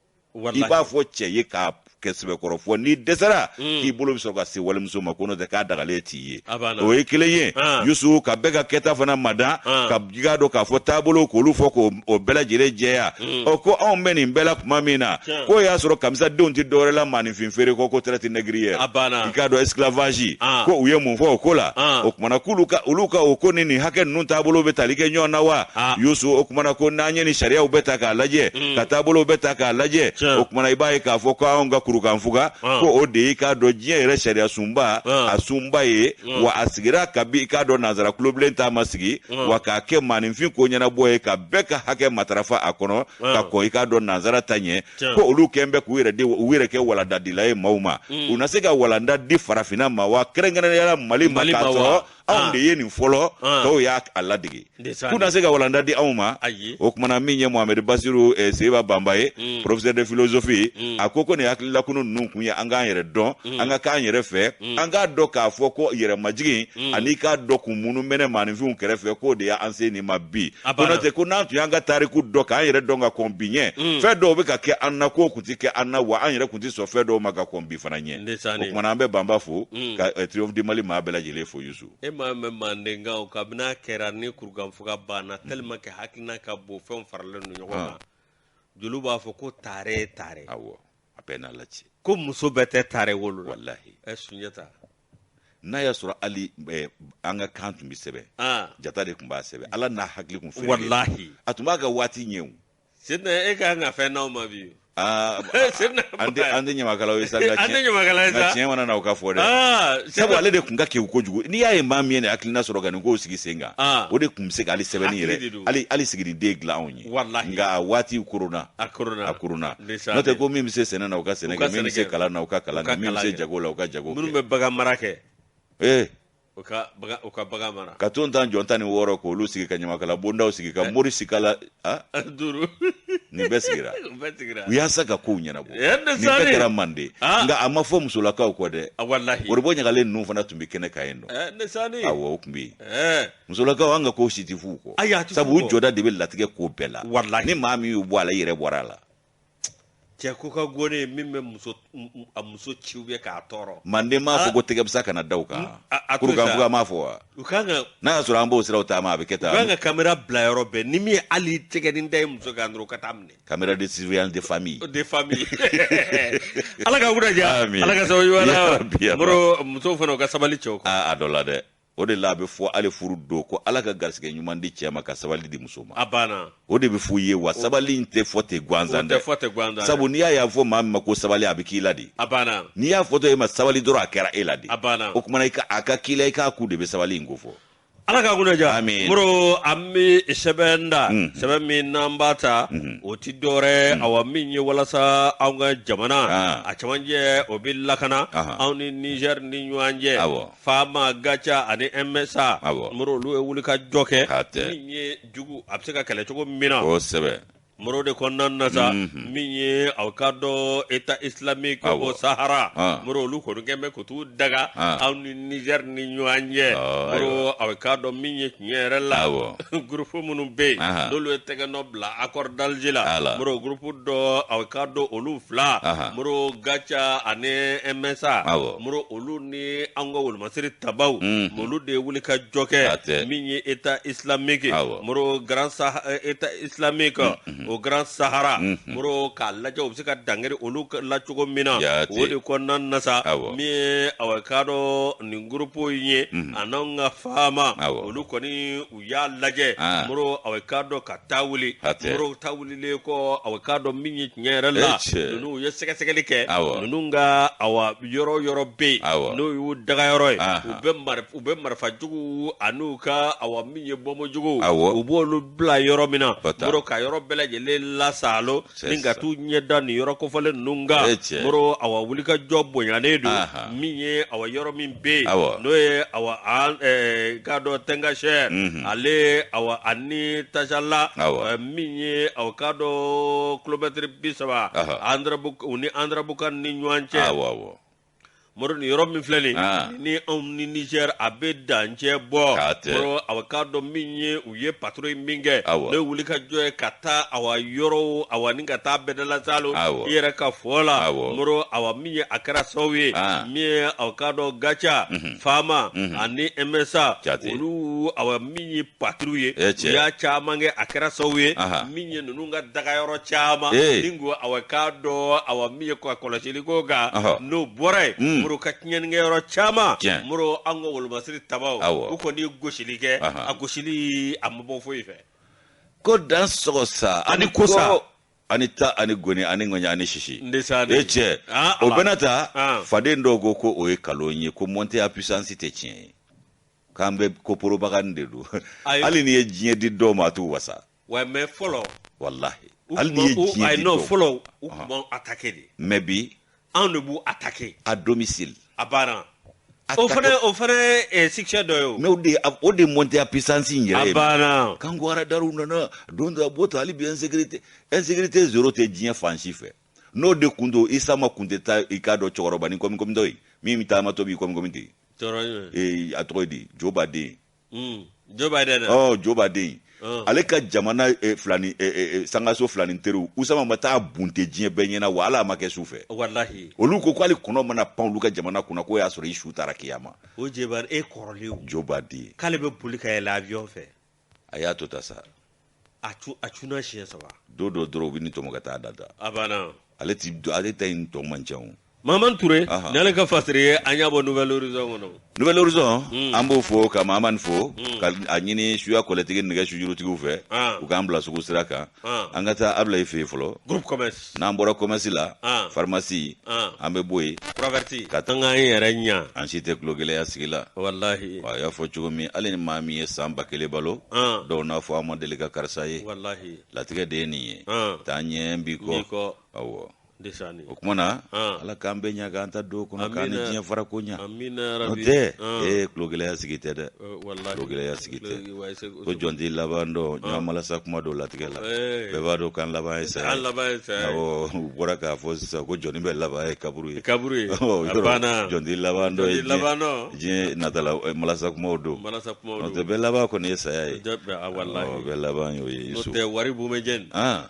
i b'a fɔ cɛ ye k'a kɛ sɛbɛkɔrɔ fɔ n'i dɛsɛra mm. k'i bolo bɛ sɔrɔ ka se walimuso ma ko n'o tɛ k'a dagalen t'i ye o ye kelen ye ah. yusu ka bɛɛ ka kɛta fana mada ah. ka i k'a dɔn k'a fɔ taabolow k'olu fɔ k'o bɛɛ lajɛlen jɛya mm. ɔ ko anw bɛ nin bɛɛ la tuma min na k'o y'a sɔrɔ kamisadenw tɛ dɔwɛrɛ la maa fin feere kɔ ko traite négrière a banna i k'a dɔn esclavage ah. ko u ye mun fɔ o ko la ah. o kumana k'olu ka olu ka o ko ni nin hakɛ ninnu taabolo bɛ tali kɛ ɲɔgɔn na wa ah. yusu o kumana ko n'an ye nin sariyaw bɛɛ ta k'a lajɛ mm. ka taabolow bɛɛ ta k'a lajɛ o kumana i b'a ye k'a fɔ ko anw ka kurukanfuga ah. ko o de y'i k'a dɔn diɲɛ yɛrɛ sariya sunba ah. a sunba ye ah. wa a sigira kabi i k'a dɔn nanzara kulobilen ta ma sigi ah. wa k'a kɛ maaninfin ko ɲɛnabɔ ye ka bɛɛ ka hakɛ matarafa a kɔnɔ ah. ka kɔn i k'a dɔn nanzara ta ɲɛ ko olu kɛn bɛ k'u yɛrɛ de u yɛrɛ kɛ walandadila ye maaw ma mm. u na se ka walanda di farafinna ma wa kɛrɛnkɛrɛnya la mali ma k'a sɔrɔ anw ah. de ye nin fɔlɔ ah. tɔw y'a a ladege k'u na se ka walanda di anw ma o kumana min ye mohamɛdi basiru eh, seyiba banba ye mm. professeur de philosophie mm. a ko ko nin hakililakunu ninnu kun ye an k'an yɛrɛ dɔn mm. an ka k'an yɛrɛ fɛ mm. an k'a dɔn k'a fɔ ko yɛrɛmajigin mm. ani k'a dɔn kun minnu mɛnɛ maaninfinw kɛrɛfɛ k'o de y'an se nin ma bi ko n'o tɛ ko n'an tun y'an ka tariku dɔn k'an yɛrɛ dɔn ka kɔn bi ɲɛ mm. fɛn dɔw bɛ ka kɛ an na k'o kun ti kɛ an na wa an yɛrɛ kun ti sɔn fɛn dɔw ma ka kɔn bi fana ɲɛ o kumana an bɛ banba fo mm. ka eh, triomphe du mali maa bɛɛ lajɛlen fo yusu e m'a mɛn mandenkaw kabini a kɛra ni kurukanfuga banna mm. tellement que hakilina ka bon fɛnw faralen don ɲɔgɔn ah. kan jeliw b'a fɔ ko taare taare awɔ a bɛ n'a laci ko muso bɛɛ tɛ taare wolo la walahi ɛ sunjata n'a y'a sɔrɔ hali eh, an ka kan tun bɛ sɛbɛn ah jata de tun b'a sɛbɛn ala n'a hakili tun fɛrɛ walahi a tun b'a ka waati ɲɛ o sidina e ka kan ka fɛn n'aw ma bi Ah, sidina an tɛ an tɛ ɲamakalaw ye sa nka an tɛ tiɲɛ- ɲamakala ye nka sa tiɲɛ mana na o ka fɔ dɛ ah sabu sidina ale de tun ka kewu kojugu n'i y'a ye maa min ye nin hakilina sɔrɔ ka nin kow sigi sen kan Ah. o de tun bɛ se ka hali sɛbɛnni Hakili de yɛrɛ don. hali hali siginiden dilan anw ye walahi nka a waati kɔnna a kɔnna a kɔnna n'o tɛ ko min bɛ se sɛnɛ na u ka sɛnɛ kɛ min bɛ se kalan na u ka kalan kɛ min bɛ se jago la u ka jago kɛ minnu bɛ bagan mara kɛ ee u ka bagan u ka bagan mara ka tontajɔn tan ni wɔɔrɔ k'olu sigi ka ɲamakala bondaw sigi ka eh. mori sigi la a ah? duuru nin bɛɛ sigira u bɛɛ sigira yaasa ka kow ɲɛnabɔ eh, nin bɛɛ kɛra manden ah. nka a ma fɔ musolakaw kɔ dɛ ah, walahi orobɔ ɲagalen ninnu fana tun bɛ kɛnɛ kan yen nɔ eh, awɔ o tun bɛ yen musolakaw an ka ko si ti f'u kɔ Ayi, a ti sabu f'u u kɔ. jɔda de bɛ latigɛ ko bɛɛ la Walahi. ni maa min y'u bɔ a la i yɛrɛ bɔra a la cɛ ko ka gɔne ye min bɛ muso m- m- a muso ci u bɛ k'a tɔɔrɔ manden m'a fɔ ko tɛgɛbisa kana da u kan Mm, a- a to kurukan sa. fuga m'a fɔ wa u kan ka n'a y'a sɔrɔ an b'o siraw taama a bɛ kɛ u kan tan ka kamera bila yɔrɔ bɛɛ ni min ye hali tɛgɛnin da ye muso kan dɔrɔn u ka t'a minɛ caméra de surveillance de famille de famille ala ka wura ja Amin. ala ka sababu Ya ɲuman Rabbi, ya na moro musow fana u ka sabali cɛw kan a a dɔ la dɛ o de la a bɛ fɔ hali furu don ko ala ka garisɛgɛ ɲuman di cɛ ma ka sabali di muso ma a banna o de bɛ f'u ye wa sabali in tɛ fɔ ten gansan dɛ sabu n'i y'a y'a fɔ maa min ma ko sabali a bɛ k'i la de a banna n'i y'a fɔtɔ e ma sabali dɔrɔn a kɛra e la de a banna o tuma na a ka k'i la i k'a kun de bɛ sabali in ko fɔ ala ka kunna ja moro an bɛ sɛbɛn ta mm. sɛbɛn min n'an b'a ta mm-hmm. o ti dɔwɛrɛ mm. awa min ye walasa anw ka jamana ah. a camancɛ o bɛ lakana anw ni nizɛri ni ɲɔgɔn cɛ fama gatia ani msa Awɔ. moro olu ye wuli ka jɔ kɛ K'a tɛ. min ye jugu a bɛ se ka kɛlɛ cogo min na kosɛbɛ moro de kɔnɔna na sa Mhm. min ye aw ka dɔn état islamique Awɔ. au sahara Ah. moro olu kɔni kɛn bɛ ko t'u daga Ah. aw ni niger ni ɲɔgɔn cɛ Ah, moro aw ka dɔn min ye tiɲɛ yɛrɛ la Awɔ. groupe minnu bɛ yen Aha. n'olu ye tɛgɛ nɔ bila accord d'alger la Ala. moro groupe dɔ aw ka dɔn olu fila Aha. moro gatia ani msa Awɔ. moro olu ni an ka wolomasiri tabaw olu de ye wuli ka jɔ kɛ min ye état islamique moro grand état islamique au grand sahara moro k'a lajɛ u bɛ se ka dankari olu la cogo min na o de kɔnɔna na sa min ye aw ka dɔn nin groupe in ye ani n'an ka fama olu kɔni u y'a lajɛ ah. moro aw ka dɔn ka taa wuli moro taa wulilen kɔ aw ka dɔn min ye tiɲɛ yɛrɛ la ninnu u ye sɛgɛsɛgɛli kɛ ninnu ka awa yɔrɔ yɔrɔ bɛ yen n'o y'u dagayɔrɔ ye ah. u bɛ u bɛ marifa jugu an'u ka awa min ye bɔnbu jugu u b'olu bila yɔrɔ min na moro ka yɔrɔ bɛɛ lajɛlen lasalo C'est ni ka ça. t'u ɲɛda nin yɔrɔ kofɔlen ninnu O kan ye tiɲɛ ye. moro awa wulikajɔ bonyalen don Aha. min ye awa yɔrɔ min bɛ yen Awɔ. n'o ye awa an eh, k'a dɔn Tɛngasɛrɛ Mhm. ale awa ani Tasala Awɔ. eh, min ye awa k'a dɔn kilomɛtiri bi saba Aha. Andrabu- u ni Andarabukan ni ɲɔgɔn cɛ awɔ awɔ moro ni yɔrɔ min filɛ nin ni anw ni Niger a bɛ dancɛ bɔ moro awa k'a dɔn min ye u ye patrouille min kɛ ne wulikajɔ ye ka taa awa yɔrɔ awa ni ka taa bɛdala Salo i yɛrɛ ka fɔ la moro awa min ye a kɛra sababu ye min ye awa k'a dɔn GATIA FAMa ani MSA olu awa min ye patrouille ye eh, u y'a caman kɛ a kɛra sababu ye min ye ninnu ka dagayɔrɔ caman eh. ni ko awa k'a dɔn awa min ye kɔlɔsili ko kan n'o bɔra ye hmm. moro ka tiɲɛnikɛyɔrɔ caman moro an ka wolomasiri tabaw u kɔni gosili kɛ a gosili a ma bɔ foyi fɛ ko dan sɔgɔ sa ani kosa ani ta ani goni ani ŋɔɲɛ ani sisi e cɛ ah, o bɛɛ n'a ta faden dɔw ko ko o ye kalon ye ko montée en puissance tɛ tiɲɛ ye k'an bɛ ko propagande don hali n'i ye diɲɛ di dɔw ma a t'u wasa wa mais fɔlɔ walahi hali n'i ye diɲɛ di dɔw fɔlɔ u tun b'anw attaquer de mais bi anw de b'u attaquer à domicile a banna o fana o fana ye succès dɔ ye o mais o de o de montée en puissance in yɛrɛ ye a banna k'an ko aradariw nana don dɔ a b'o to hali bi insécurité insécurité zéro tɛ diɲɛ fan si fɛ n'o de kun don Usama kun tɛ taa i k'a dɔn cɛkɔrɔbanin kɔmikɔmitɔ ye min bɛ taamatɔ b'i kɔmikɔmi ten ee a tɔgɔ ye di Joe Biden hmm, Joe Biden ɔ Joe Biden oh. ale ka jamana eh, filani eh, eh, sangaso filani teriw Usama ma taa bunte diɲɛ bɛɛ ɲɛna wa Ala a ma kɛ su fɛ olu ko ko hali kɔnɔ mana pan olu ka jamana kunna k'o y'a sɔrɔ i su taara kiyama o jebari e kɔrɔlen Joe Biden k'ale bɛ boli ka yɛlɛ avion fɛ a y'a to ta sa a cu a cunna siɲɛ saba don dɔ dɔrɔn u bɛn'i tɔmɔ ka taa da da a banna ale ti ale ta in tɔ man ca o Maman Toure, Aha. n'ale ka fasiri ye an y'a bɔ Nouvelle Horizon kɔnɔ. Nouvelle Horizon, mm. an b'o fo ka Maman fo, mm. ka a ɲini suya kɔlɛtigi nɛgɛ sujurutigiw fɛ, ah. u k'an bila sugu sira kan. Ah. an ka taa Ablaye fɛ yen fɔlɔ groupe commerce n'an bɔra commerce la Ah. pharmacie Ah. an bɛ bɔ yen proverti Ka- an k'an yɛrɛ ɲa an si tɛ kulogɛlɛya sigi la walahi a y'a fɔ cogo min hali ni maa min ye san ba kelen balo Ah. dɔw n'a fɔ an ma deli ka karisa ye walahi latigɛ de ye nin ye Ah. taa ɲɛ bi n'i kɔ kɔ awɔ o kuma na Ala k'an bɛɛ ɲa k'an taa don kɔnɔ k'an ni diɲɛ farako ɲɛ o tɛ ee kulogɛlɛya sigi tɛ dɛ kulogɛlɛya sigi tɛ ko jɔn t'i laban dɔn ɲɔgɔn malasa kuma don latigɛ la bɛɛ b'a dɔn k'an laban ye saya awɔ u bɔra k'a fɔ sisan ko jɔnni bɛɛ laban ye kaburu ye kaburu ye jɔn t'i laban dɔn ye diɲɛ natala malasa kumaw don n'o tɛ bɛɛ laban kɔni ye saya ye bɛɛ laban y'o ye n'o tɛ waribon bɛ jɛ nin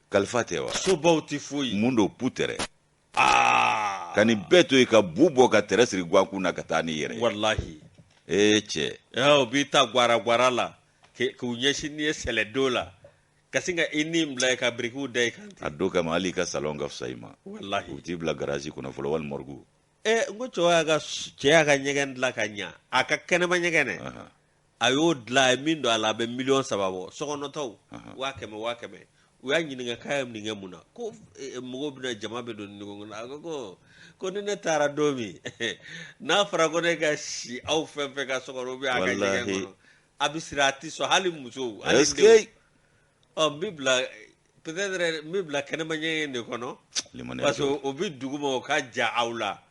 kalifa tɛ wa sobaw tɛ foyi mun don pu tɛrɛ aa ka nin bɛɛ to yen ka bu bɔ ka tɛrɛ siri guakun na ka taa ni yɛrɛ walahi ee cɛ o b'i ta gwara gwara la k'u ɲɛsin n'i ye sɛlɛdo la ka sin ka i ni bila i ka birikiw da i kan ten a don kama hali i ka salon ka fisa i ma walahi u t'i bila garazi kɔnɔ fɔlɔ wali mɔrigu ee n ko cɛ y'a ka cɛ y'a ka ɲɛgɛn dilan ka ɲa a ka kɛnɛma ɲɛgɛn dɛ a y'o dilan a ye min don a la a bɛ miliyɔn saba bɔ sokɔnɔtaw waa kɛmɛ waa kɛmɛ u y'a ɲininka k'a ye nin kɛ mun na ko eh, mɔgɔw bɛna jama bɛ don nin kɔnɔ a ko ko ko ni ne taara don min n'a fɔra ko ne ka si aw fɛn fɛn ka sokɔnɔ ou bien a ka ɲɛgɛn Walahi. kɔnɔ a bɛ siran a tɛ sɔn hali musow hali Est-ce denw. que- ɔ n bɛ bila peut-être n bɛ bila kɛnɛma ɲɛgɛn de kɔnɔ Limaniya parce que don. o bɛ duguma o ka jan aw la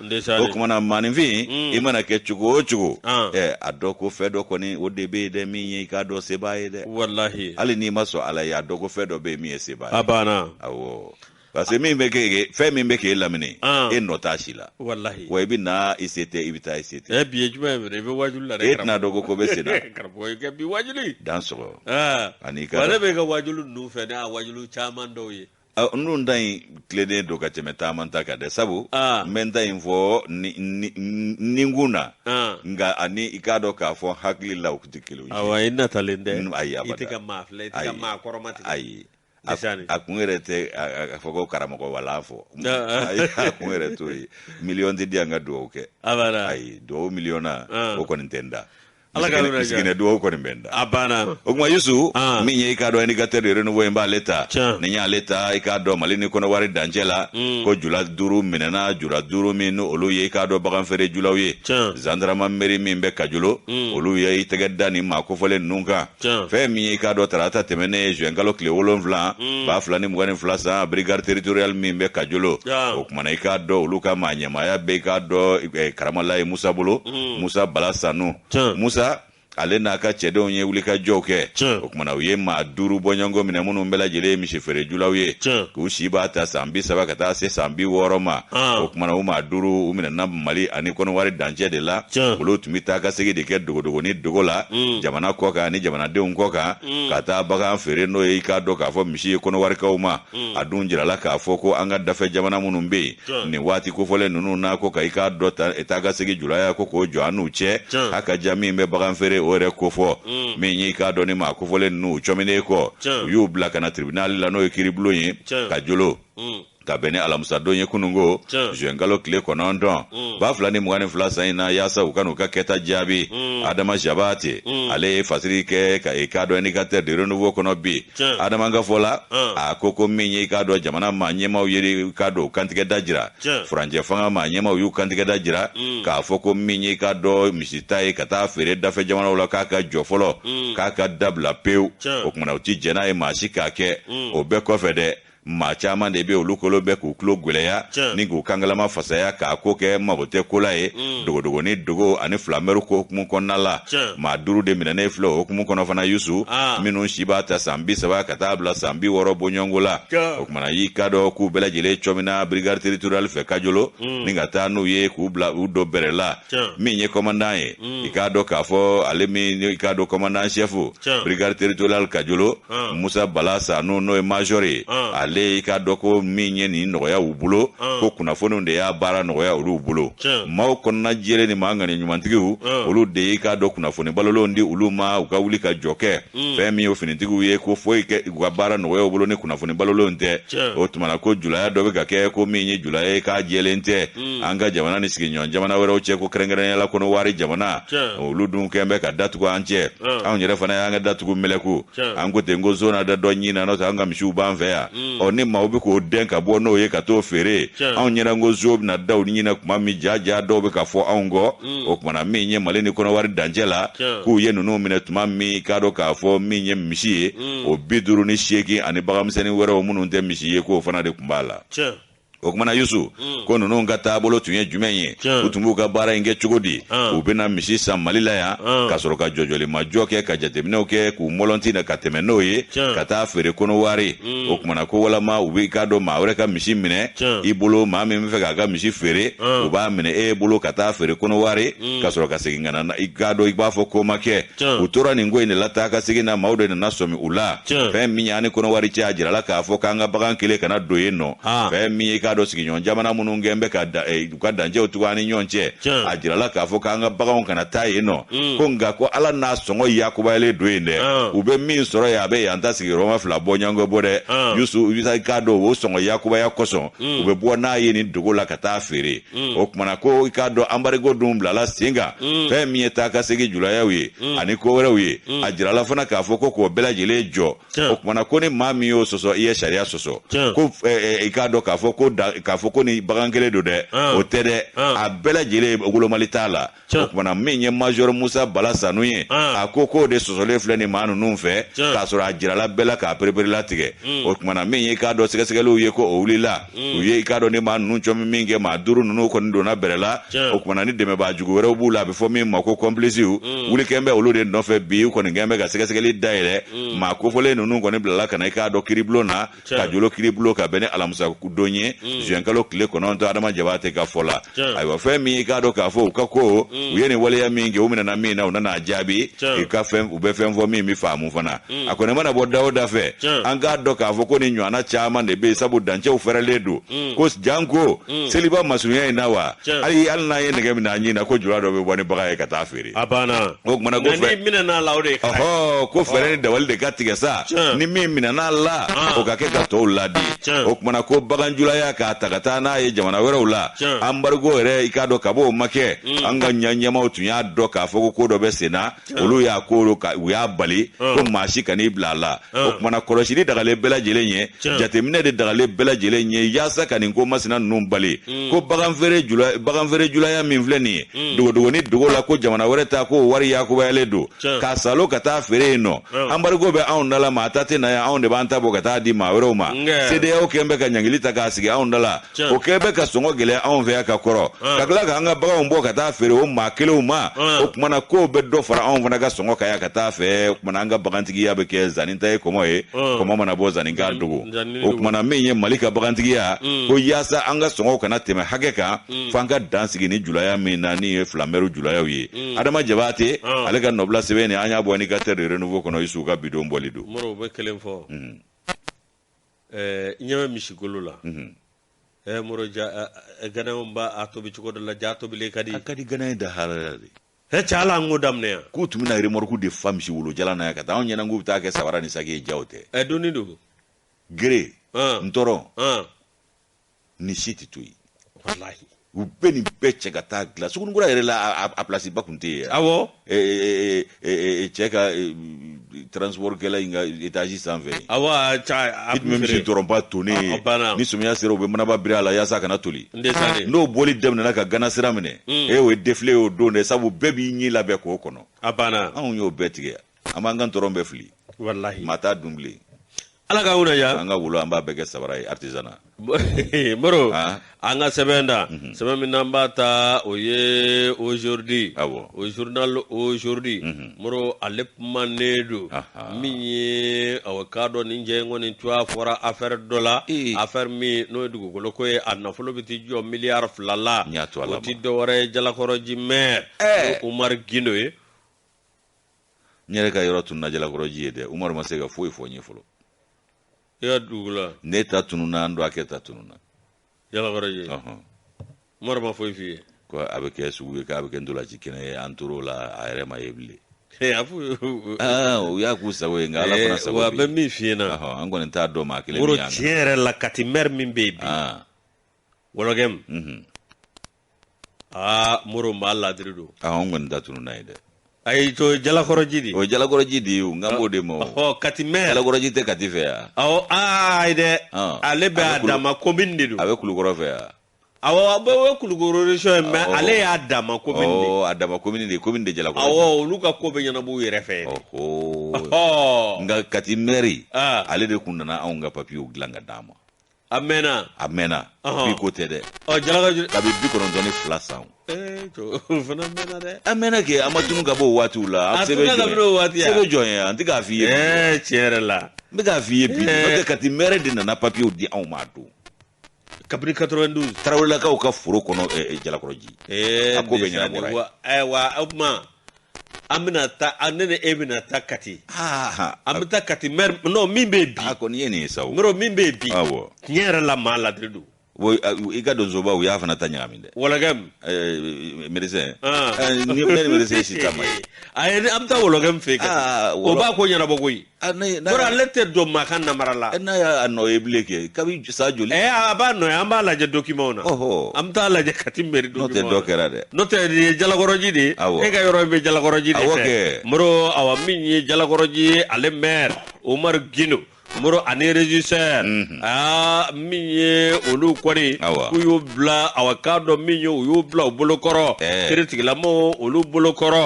o kumana maaninfin mm. i mana kɛ cogo o cogo ah. eh, a dɔ ko fɛn dɔ kɔni o de bɛ yen dɛ min ye i k'a dɔn sebaa ye dɛ walahi hali n'i ma sɔn ala ye a dɔ ko fɛn dɔ bɛ yen min ye sebaa ye a banna awɔ parce que min bɛ k'e fɛn min bɛ k'e lamini ah. e nɔ t'a si la walahi wa i bɛ na i se tɛ i bɛ taa i se tɛ eh, bi ye jumɛn ye mɛnɛ i bɛ waajuli la dɛ e tɛna dɔn ko ko bɛ sen na karamɔgɔ i ka bi waajuli dan sɔgɔ ah. ani ka wa ne b'e ka waajuli ninnu fɛ ne y'a waajuli caman dɔw ye Ah, n dun ta in tilennen don ka tɛmɛ taaman ta kan dɛ sabu ah. n bɛ n ta in fɔ nɛnkun na ah. nka ani i k'a dɔn k'a fɔ hakili la u tɛ kelen ye awa i natalen tɛ ayi abada i tɛ ka maa filɛ i tɛ ka maa kɔrɔmatigɛ ayi a kun yɛrɛ tɛ a fɔ ko karamɔgɔ wala fɔ a kun yɛrɛ t'o ye miliyɔn tɛ di yan ka dugawu kɛ abada ayi dugawu miliyɔn na o kɔni tɛ n da Ala k'a yɔrɔ jan. Siginɛ duwawu kɔni bɛ n da. A banna. O kuma Yusu, Ah. min ye i k'a dɔn indicateur de renouveau ye, n b'ale ta. Tiɲɛ. Ni n y'ale ta, i k'a dɔn Mali ni Kɔnɔwari dancɛ la, ko jula duuru minɛna, jula duuru minnu olu ye i k'a dɔn baganfeere julaw ye. Tiɲɛ. Gendarmerie min bɛ Kajolo, olu ye i tɛgɛ da nin maa kofɔlen ninnu kan. fɛn min ye i k'a dɔn tarata tɛmɛnen ye juin kalo tile wolonfila hmm. ba fila ni mugan ni fila san brigade territorial min bɛ kajolo o kumana i k'a dɔn olu ka maa ɲɛmaaya bɛ i k'a dɔn eh, karamalaye musa bolo hmm. musa bala sanu musa ale n'a ka cɛdenw ye wulikajɔw kɛ o kumana u ye maa duuru bɔɲɔgɔnko minɛ minnu bɛɛ lajɛlen ye misifeerejulaw ye k'u si b'a ta san bi saba ka taa se san bi wɔɔrɔ ma o kumana u maa duuru u minɛna mali ani kɔnɔwari dancɛ de la olu tun bɛ taa ka segin de kɛ dogodogoni dogo la mm. jamana kɔ kan ani jamanadenw kɔ kan mm. ka taa bagan feere n'o ye i k'a dɔn k'a fɔ misi ye kɔnɔwarikaw ma mm. a dun jirala k'a fɔ ko an ka dafɛ jamana minnu bɛ yen nin waati kofɔlen ninnu na ko ka i k'a dɔn ta e taa ka segin julaya ko k'o jɔ an n'u cɛ a ka ja min bɛ bagan feere o yɛrɛ kofɔ min y'i k'a dɔn ni maa kofɔlen ninnu cɔminen kɔ u y'u bila ka na tribinali la n'o ye kiiribulon ye kajolo ka bɛn ni alamusadon ye kunungo zuwɛnkalo tile kɔnɔntɔn mm. ba fila ni mugan ni fila san in na yaasa u ka n'u ka kɛta jaabi mm. adama jabate mm. ale ye fasiri kɛ ka i k'a dɔn indicateur de renouveau kɔnɔ bi adama ka fɔ la a ko ko min ye i k'a dɔn jamana maa ɲɛmaw ye i k'a dɔn u kantigɛda jira furancɛ fanga maa ɲɛmaw y'u kantigɛda jira k'a fɔ ko min ye i k'a dɔn misita ye ka taa feere dafɛ jamanaw la k'a ka jɔ fɔlɔ k'a ka dabila pewu o kumana u ti jɛn n'a ye maa si k'a kɛ o bɛɛ kɔfɛ dɛ maa caman de bɛ olu kolo bɛ k'u tulo gwɛlɛya ni k'u kangalama fasaya k'a ko kɛ mago tɛ ko la ye mm. dogodogonin dogo ani filamɛri ko hukumu kɔnɔna la maa duuru de minɛnen filɛ o hukumu kɔnɔ fana yusu ah. minnu si b'a ta san bi saba ka taa bila san bi wɔɔrɔ bɔɲɔgɔnko la o kumana y'i k'a dɔn k'u bɛɛ lajɛlen cɔmina brigade territorial fɛ kajolo mm. ni ka taa n'u ye k'u bila u don bɛrɛ la min ye kɔmandan ye mm. i k'a dɔn k'a fɔ ale min i k'a dɔn kɔmandan sɛfu brigade territorial kajolo ah. musa bala sanu n'o ye major ye ah. ale i k'a dɔn ko min ye nin nɔgɔya u bolo ah. ko kunnafoniw de y'a baara nɔgɔya olu bolo maaw kɔnɔna jɛlen ni maa ŋani ɲumantigiw olu de y'i k'a dɔn kunnafoni balolenw di olu ma u ka wuli ka jɔ kɛ mm. fɛn min ye finitigiw ye ko foyi tɛ u ka baara nɔgɔya u bolo ni kunnafoni balolenw tɛ o tumana ko julaya dɔ bɛ ka kɛ ko min ye julaya ye k'a jɛlen tɛ mm. an ka jamana ni sigiɲɔgɔn jamana wɛrɛw cɛ ko kɛrɛnkɛrɛnyala kɔnɔwari jamana olu dun kɛn bɛ ka datugu an cɛ anw yɛrɛ fana y'an ka da tugu mɛlɛku an kɔ ten ko zona da dɔ ɲin na n'o tɛ an ka misiw b'an fɛ yan mm. ɔ ni maaw bɛ k'o gɛn ka bɔ n'o ye ka t'o feere anw ɲɛna ko zo bɛna daw ɲinɛ tuma min ja ja dɔw bɛ ka fɔ anw kɔ mm. o kumana min ye mali ni kɔnɔwari dancɛ la k'u ye ninnu minɛ tuma min k'a dɔn k'a fɔ min ye misi ye mm. o bi duru ni seegin ani baganmisɛnnin wɛrɛw minnu tɛ misi ye k'o fana de tun b'a la o kumana yusu mm. ko ninnu ka taabolo tun ye jumɛn ye u tun b'u ka baara in kɛ cogo di ah. u bɛna misi san mali la yan ah. ka sɔrɔ ka jɔjɔlimajɔ kɛ ka jateminɛw kɛ k'u mɔlɔnti na ka tɛmɛ n'o ye ka taa feere kɔnɔwari mm. o kumana ko walama u b'i k'a dɔn maa wɛrɛ ka misi minɛ i bolo maa min bɛ fɛ k'a ka misi feere u b'a minɛ e bolo ka taa feere kɔnɔwari mm. ka sɔrɔ ka segin ka na i k'a dɔn i b'a fɔ ko ma kɛ u tora nin ko in de la taa ka segin na maaw de nana sɔmi u la fɛn min y'an ni kɔnɔwari cɛ a jirala k'a fɔ k'an ka bagan kelen kana don yen nɔ fɛn min ye i k'a dɔn sigiɲɔgɔn jamana minnu kɛn bɛ ka da e, u ka dancɛw tugu an ni ɲɔgɔn cɛ a jirala k'a fɔ k'an ka baganw kana taa yen nɔ mm. ko nka ko ala n'a sɔngɔ yakubayalen don yen dɛ ah. u bɛ min sɔrɔ yen a bɛ yan ta sigiyɔrɔma fila bɔ ɲɔgɔn bɔ dɛ ah. yusu i k'a dɔn o sɔngɔ yakubaya kosɔn mm. u bɛ bɔ n'a ye nin dogo la ka taa feere mm. o kumana ko i k'a dɔn anbarigo dun bilala sen kan fɛn min ye taa ka segin julayaw ye ani ko wɛrɛw ye a jirala fana k'a fɔ ko k'o bɛɛ lajɛlen jɔ o kumana ko ni maa min y'o sɔsɔ i ye sariya sɔsɔ ko i k'a dɔn k'a fɔ ko k'a fɔ ko ni bagan kelen don dɛ o tɛ dɛ a bɛɛ lajɛlen wolomali t'a la o kumana min ye major musa bala sanu ye a ko k'o de sɔsɔlen filɛ nin maa ninnu fɛ k'a sɔrɔ a jirala bɛɛ la k'a pereperela tigɛ o kumana min ye k'a dɔn sɛgɛsɛgɛliw ye ko o wulila u ye i k'a dɔn ni maa ninnu cɔmi min kɛ maa duuru ninnu kɔni donna bɔrɛ la o kumana ni dɛmɛbaa jugu wɛrɛw b'u la a bɛ fɔ min ma ko complices wuli kɛn bɛ olu de nɔfɛ bi u kɔni kɛn bɛ ka sɛgɛsɛgɛli dayɛlɛ mm. maa kofɔlen ninnu kɔni bilala ka na i k'a dɔn kiribulon na kajolo kiribulon ka bɛn ni alamisa don ye mm. zuwɛnkalo tile kɔnɔntɔn adama jabate ka fɔ la ayiwa fɛn min i k'a dɔn k'a fɔ u ka ko mm. u ye nin waleya min kɛ u minɛna min na u nana a jaabi i ka fɛn u bɛ fɛn fɔ min bɛ faamu fana a kɔni mana bɔ da o da fɛ an k'a dɔn k'a fɔ ko nin ɲɔgɔnna caman de bɛ yen sabu dancɛw fɛrɛlen don ko janko seliba masurunya in na wa hali hali n'an ye nɛgɛ minɛ an ɲin na ko jula dɔ bɛ bɔ ni bagan ye ka taa feere a banna o kumana ko fɛn minɛn'a la o de ka ɔhɔ ko fɛɛrɛ ni dabali de ka tigɛ sa ni min minɛn'a la o ka kɛ ka tɔw ladi o kumana ko baganjulaya k'a ta ka taa n'a ye jamana wɛrɛw la anbarigo yɛrɛ i k'a dɔn k'a f'o ma kɛ mm. an ka ɲɛmaw tun y'a dɔn k'a fɔ ko ko dɔ bɛ sen na olu y'a ko u y'a bali ko maa si kan'i bila a la o kumana kɔlɔsili dagalen bɛɛ lajɛlen ye jateminɛ de dagalen bɛɛ lajɛlen ye yaasa ka nin ko masina ninnu bali mm. ko baganfeere julaya min filɛ nin ye mm. dogodogoni dogo la ko jamana wɛrɛ ta ko wari yakubayalen don k'a salo ka taa feere yen nɔ anbarigo bɛ anw da la maa ta tɛ na yan anw de b'an ta bɔ ka taa di maa wɛrɛw ma cedeao kɛn bɛ ka ɲangili ta k'a sigi anw da la o kɛn bɛ ka sɔngɔ gɛlɛya anw fɛ yan ka kɔrɔ ka tila ka an ka baganw bɔ ka taa feere o maa kelenw ma o kumana k'o bɛ dɔ fara anw fana ka sɔngɔ kan yan ka taa fɛ o kumana an ka bagantigiya bɛ kɛ zanin ta ye kɔmɔ ye kɔmɔ mana bɔ zanin k'a dogo o kumana min ye mali ka bagantigiya ko yaasa an ka sɔngɔw kana tɛmɛ hakɛ kan f'an ka dan sigi ni julaya min na ni ye filanbɛriw julayaw ye adama jabate ale ka nɔbila sɛbɛn ni an y'a bɔ indicateur du renouveau kɔnɔ isuw ka bidon bɔli don Ɛɛ i ɲɛ bɛ misigolo la ɛɛ mori ganaw b'a tobi cogo dɔ la j'a tobilen ka di a ka di ghanéen da halala dɛ ɛ cɛ ala an ko daminɛ yan k'u tun bɛna remorque de fa misi wolo jalan na yan ka taa anw ɲɛna k'u bɛ taa kɛ sabara ni saki ye jaa o tɛ ɛ dunni don gere ntɔrɔn nin si tɛ to yen walahi u bɛ nin bɛɛ cɛ ka taa dilan sugunikura yɛrɛ la a place ba tun tɛ yen awɔ cɛ ka transport kɛla in ka étage sanfɛ awɔ i tun bɛ misi ntɔrɔnba tonnen ni samiya sera u bɛ manaba biri a la yaasa a kana toli n'o boli daminɛna ka gana sira minɛ e o ye défilé ye o don dɛ sabu bɛɛ b'i ɲɛ labɛn k'o kɔnɔ a banna anw y'o bɛɛ tigɛ an b'an ka ntɔrɔn bɛɛ fili walahi maa t'a dun bilen ala ka wula ya an ka wolo an b'a bɛɛ kɛ sabara ye artisana moro ah. an ka sɛbɛn da mhm. sɛbɛn min n'an b'a ta o ye aujourd'hui awɔ o journal aujourd'hui mhm. moro ale kumanen don min ye awa k'a dɔn nin jɛ kɔni tɔgɔ fɔra affaire dɔ la affaire min n'o ye dugukolo ko ye a nafolo bɛ t'i jɔ miliyari fila la o tɛ dɔwɛrɛ ye jalakɔrɔji maire eh. umaru gindo ye n yɛrɛ ka yɔrɔ tununa jalakɔrɔji ye dɛ umaru ma se ka foyi fɔ n ye fɔlɔ ya dugula ne ta tununa n dɔgɔkɛ ta tununa jalakɔrɔji ɔhɔn umaru ma foyi f'i ye ko a bɛ kɛ sugu ye k'a bɛ kɛ ntolaci kɛnɛ ye an tor'o la a yɛrɛ ma ye bilen Hey, a f'u ye- Ah, u y'a k'u sago ye nka ala fana Eh, sago wa bɛ bɛ yen. min f'i ɲɛna Ɔhɔn, an kɔni t'a dɔn maa kelen moro min y'an tiɲɛ yɛrɛ la kati mɛri min bɛ yen bi Ah, wɔlɔgɛm mhm. aa moro maa ladiri don aa an kɔni ta tununa yen dɛ ayi to jalakɔrɔji di o ye jalakɔrɔji de ye o n kan b'o de ma o ɔhɔ kati mɛri jalakɔrɔji tɛ kati fɛ yan awɔ aa ayi dɛ Ɔn. ale bɛ A bɛ a kulu- dama komin de don a bɛ kulukɔrɔ fɛ yan awɔ a bɛ o ye kulukoro resɔn ye mɛ Awɔ. ale y'a dama komin de ɔ a dama komini de komini de jalakɔrɔji awɔ olu ka ko bɛ ɲɛnabɔ u yɛrɛ fɛ yen ɔhɔ ɔhɔ nka kati mɛri aa ale de kun nana anw ka papiyew dilan ka d'an ma a mɛnna a mɛnna bi ko tɛ dɛ ɔ jalakɔrɔji kabi bi kɔnɔntɔn ni fila san o fana mɛnna dɛ a mɛnna kɛ a ma tunun ka bɔ o waatiw la a sɛbɛn jɔn ye sɛbɛn jɔn ye an tɛ k'a f'i ye ɛɛ tiɲɛ yɛrɛ la n bɛ k'a f'i ye bi n'o tɛ kati mɛri de nana papiyew di anw ma a don kabini 92 tarawelelakaw ka foro kɔnɔ jalakɔrɔji a ko bɛ ɲɛnabɔ wa o tuma an bɛna taa a ne ni e bɛna taa kati aa an bɛ taa kati mɛri n'o min bɛ yen bi a kɔni ye nin ye sa o mɛri min bɛ yen bi awɔ tiɲɛ yɛrɛ la maa ladiri don o a- i ka donsoba u y'a fana ta ɲagami dɛ wɔlɔgɛm Eh, médecin Ah. Eh, ni ne ni médecin si ta ma ye a ye an bɛ taa wɔlɔgɛm fɛ yen kati Ah, o wɔlɔ- b'a ko ɲɛnabɔ koyi Ah, n'a ye- n'a Bɔra ye- ale tɛ don maa ka namara la. eh, n'a y'a nɔ ye bilen kɛ kabi san joli Ɛ a b'a nɔ ye an b'a lajɛ dokimanw na. Ɔhɔ. An bɛ taa lajɛ Kati mɛri dokimanw na. n'o tɛ dɔ kɛra dɛ N'o tɛ nin ye jalakɔrɔji de ye. Awɔ. E ka yɔrɔ in bɛ jalakɔrɔji de Awɔ fɛ. kɛ. Moro awa min ye jalakɔrɔji ye ale mɛri Umaru Gindo Moro ani regisseur. aa min ye olu kɔni k'u y'u bila awa k'a dɔn min ye u y'u bila u bolokɔrɔ kiritigɛla maaw olu bolokɔrɔ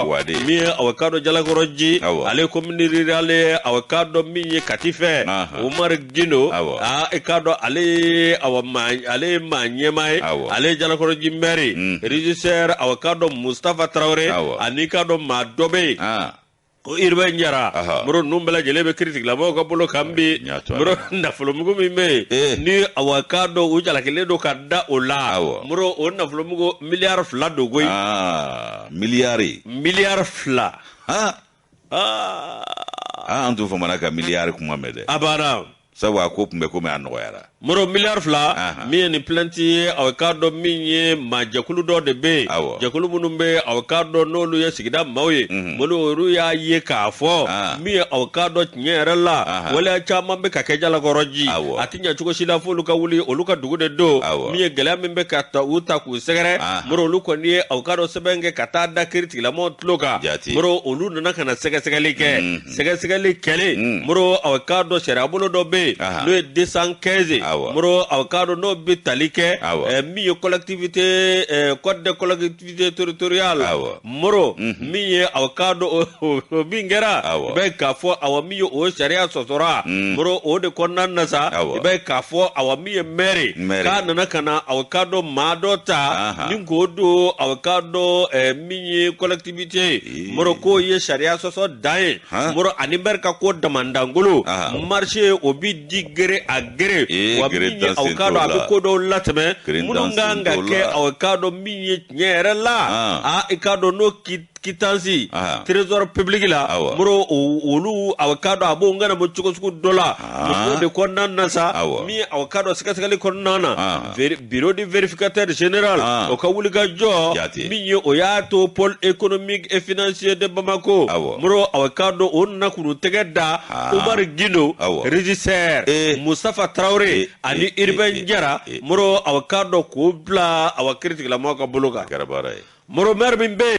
min ye awa k'a dɔn jalakɔrɔji ale commune rurale awa k'a dɔn min ye kati fɛ umaru gindo aa i k'a dɔn ale ye awa maa ale ye maa ɲɛmaa ye ale ye jalakɔrɔji mɛri rejisɛri awa k'a dɔn musitafa tarawele ani k'a dɔn maa dɔ bɛ yen ko Urbain Jara Aha. Moro ninnu bɛɛ lajɛlen bɛ kiritigɛlamaaw ka bolo kan bi n y'a to a la. Moro nafolomugu min bɛ yen Eh. ni awa k'a dɔn u jalakilen don ka da o la Awɔ. Moro o nafolomugu miliyari fila don koyi aa miliyari miliyari fila aa Aa, aa an t'o fɔ mana ka miliyari kuma mɛn dɛ a banna sabu a ko tun bɛ komi a nɔgɔyara moro miliyari fila min ye nin plainti ye aw k'a dɔn min ye maa jɛkulu dɔ de bɛ yen jɛkulu minnu bɛ yen aw k'a dɔn n'olu ye sigida maaw ye mhm. molu olu y'a ye k'a fɔ ah. min ye aw k'a dɔn tiɲɛ yɛrɛ la waleya caman bɛ ka kɛ Jalakɔrɔji a tɛ ɲɛ cogo si la f'olu ka wuli olu ka dugu de don min ye gɛlɛya min bɛ ka ta u ta k'u sɛgɛrɛ ah. moro olu kɔni ye aw k'a dɔn sɛbɛn kɛ ka taa da kiritigɛlamɔgɔw tulo kan moro olu nana ka na sɛgɛsɛgɛli kɛ mhm. sɛgɛsɛgɛli kɛlen mm. moro aw k'a dɔn sariyabolo dɔ bɛ yen n'o ye desan kɛnze moro aw k'a dɔn n'o bɛ tali kɛ eh, min ye kɔlɛkitivite eh, code de collectivité territoriale moro mm-hmm. min ye aw k'a dɔn o min kɛra i bɛ k'a fɔ awa min ye o sariya sɔsɔra mm. moro o de kɔnɔna na sa i bɛ k'a fɔ awa min ye mɛri k'a nana ka na aw k'a dɔn maa dɔ ta ni k'o don aw k'a dɔn eh, min ye kɔlɛkitivite ye moro ko ye sariya sɔsɔ dan ye moro ani mɛri ka ko damandangolo marise u b'u di gré à gré wa min ye aw k'a dɔn a bɛ ko dɔw latɛmɛ minnu ka kan ka kɛ aw k'a dɔn min ye tiɲɛ yɛrɛ la a i k'a dɔn n'o kitansi trésor public la moro olu aw k'a dɔn a b'o ɲɛnabɔ cogo sugu dɔ la o de kɔnɔna na sa min ye aw k'a dɔn sɛgɛsɛgɛli kɔnɔna na bureau de vérificateur général o ka wuli ka jɔ min ye o y'a to pôle économique et financier de Bamakɔ moro aw k'a dɔn o nana k'u tɛgɛ da Umaru Gindo régisseur Mustafa Tarawele ani Urbain Jara moro aw k'a dɔn k'u bila awa kiritigɛlamaaw ka bolo kan moro mɛri min bɛ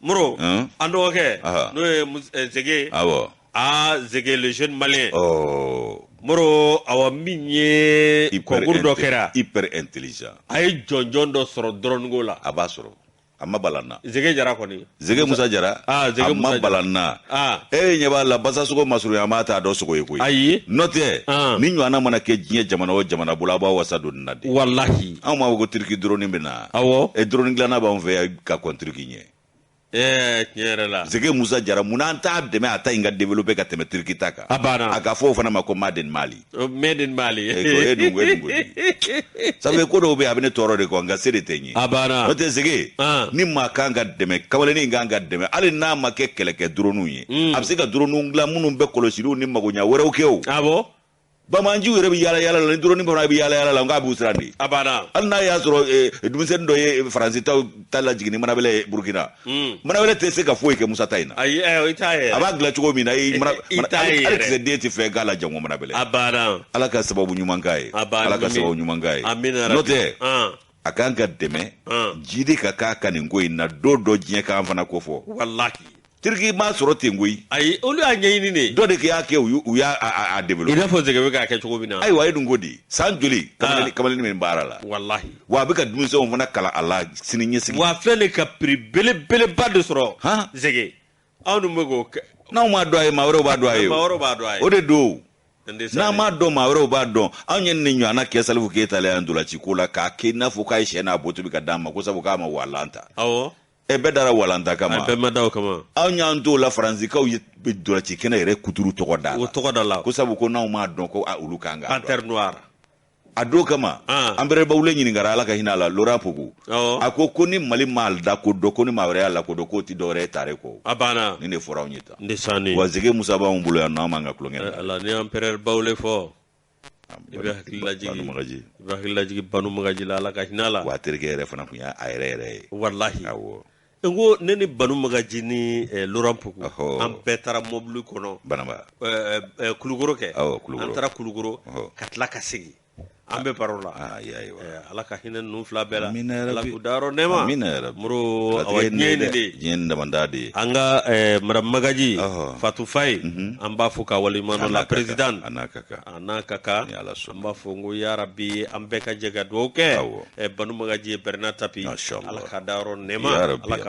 moro an dɔgɔkɛ n'o ye eh, zege awɔ aa zege le jeune malien oh. moro awa min ye concours dɔ kɛra hyper intelligent a ye jɔnjɔn dɔ sɔrɔ droninko la a b'a sɔrɔ a ma bala an na zege jara kɔni zege musa jara ah, zege a ma bala an na ah. e eh, ɲɛ b'a la basasogo masurunya maa t'a dɔn sogo ye koyi ayi n'o tɛ ah. nin ɲɔgɔnna mana kɛ diɲɛ jamana o jamana bolo a b'a wasa don nin na de walahi anw b'a fɔ ko turki dronin bɛ na awɔ e eh, dronin dilanna b'anw fɛ yan ka kɔntiri k'i ɲɛ Eh, tiɲɛ yɛrɛ la zege musa jara mun na an t'a dɛmɛ a ta in ka develope ka tɛmɛ turki ta kan A banna. a ka fɔ o fana ma ko made in mali Oh, made in mali Eh, ko e dun ko e dun ko di. sabu e ko dɔw bɛ yen a bɛ ne tɔɔrɔ de kɔ nka se de tɛ n ye A banna. n'o tɛ zege Ah. ni maa kan ka dɛmɛ kamalennin in kan ka dɛmɛ hali n'a ma kɛ kɛlɛkɛ duroninw ye Mm. a bɛ se ka duroninw dilan minnu bɛ kɔlɔsiliw ni magoɲɛ wɛrɛw kɛ o awɔ banbaanciw yɛrɛ bɛ yaala yaala la ni dɔrɔni ba fana bɛ yaala yaala la nka a b'u siran de a banna hali n'a y'a sɔrɔ eh, denmisɛnnin dɔ ye faransi ta lajigin ni manabɛlɛ ye burukina hmm. manabɛlɛ tɛ se ka foyi kɛ musa ta in na ayi eh, i t'a ye a b'a dilan cogo min na i mana i t'a ye hali kisɛ den tɛ fɛn k'a la jango manabɛlɛ a banna ala ka sababu ɲuman k'a ye a banna ala ka sababu ɲuman k'a ye amina n'o tɛ a kan ka dɛmɛ jidi ka k'a kan nin ko in na don dɔ diɲɛ k'an fana ko fɔ walahi tiriki m'a sɔrɔ ten koyi ayi olu y'a ɲɛɲini de dɔ de y'a kɛ u y'a développé i n'a fɔ zɛgɛ bɛ k'a kɛ cogo min na ayiwa a ye dun ko di san joli kamalen in bɛ baara la walahi wa a bɛ ka denmisɛnw fana kalan a la sini ɲɛsigi wa filɛ ka prix belebeleba de sɔrɔ han zɛgɛ anw dun bɛ k'o kɛ n'anw m'a dɔn a ye maa wɛrɛw b'a dɔn a ye maa wɛrɛw b'a dɔn a ye o de don n'an m'a dɔn maa wɛrɛw b'a dɔn anw ye nin ɲɔgɔnna kɛ salifu keyita la yan ntolaciko la k'a kɛ i n'a fɔ k'a ye shɛ n'a bo tobi ka d'an ma ko sabu k'a ma walan ta awɔ ɛ bɛɛ dara walan ta kama bɛɛ ma da o kama anw y'an t'o la faransikaw ye ntolaci kɛnɛ yɛrɛ kuturu tɔgɔ da la o tɔgɔ da la ko sabu ko n'anw m'a dɔn ko olu k'an k'a dɔn panthère noire a do kama ah. empereur bawule ɲininkara ala ka hinɛ a la laurent pokou oh. a ko ko ni mali m'a lakodɔn ko ni maa wɛrɛ y'a lakodɔn k'o ti dɔwɛrɛ ye tare kɔ a banna nin de fɔra anw ye tan ndesani wa zɛgɛ musa b'anw bolo yan nɔ an b'an ka tulonkɛ eh, ala ni empereur bawule fɔ i bɛ hakili lajigi i bɛ hakili lajigi banu magaji la ala ka hinɛ a la wa a terikɛ yɛrɛ fana tun y'a a yɛrɛ yɛrɛ ye walahi awɔ n ko ne ni banu magaji ni eh, laurent pokou Ɔhɔ. an bɛɛ taara mɔbili kɔnɔ banamba eh, eh, eh, kulukoro kɛ Awɔ, Kulukoro. an taara kulukoro Ɔhɔ. ka tila ka segin an bɛ baro la aa ya ye wa Eh, ala ka hinɛ ninnu fila bɛɛ la Amina ya ala Rabbi. k'u dayɔrɔ nɛɛma Amina ya Rabbi. muru Latigɛ awa ye nin diɲɛ ye nin dɛ. de ye diɲɛ ye nin damanda de ye an ka eh, madame magaji Ɔhɔ. fatu faye an b'a fo ka waleɲuman dɔn a la A n'a ka kan, présidente a n'a ka kan a n'a ka kan an b'a fɔ n ko yarabi an bɛɛ ka jɛ ka dugawu kɛ banu magaji ye bernard tapie ala k'a dayɔrɔ nɛma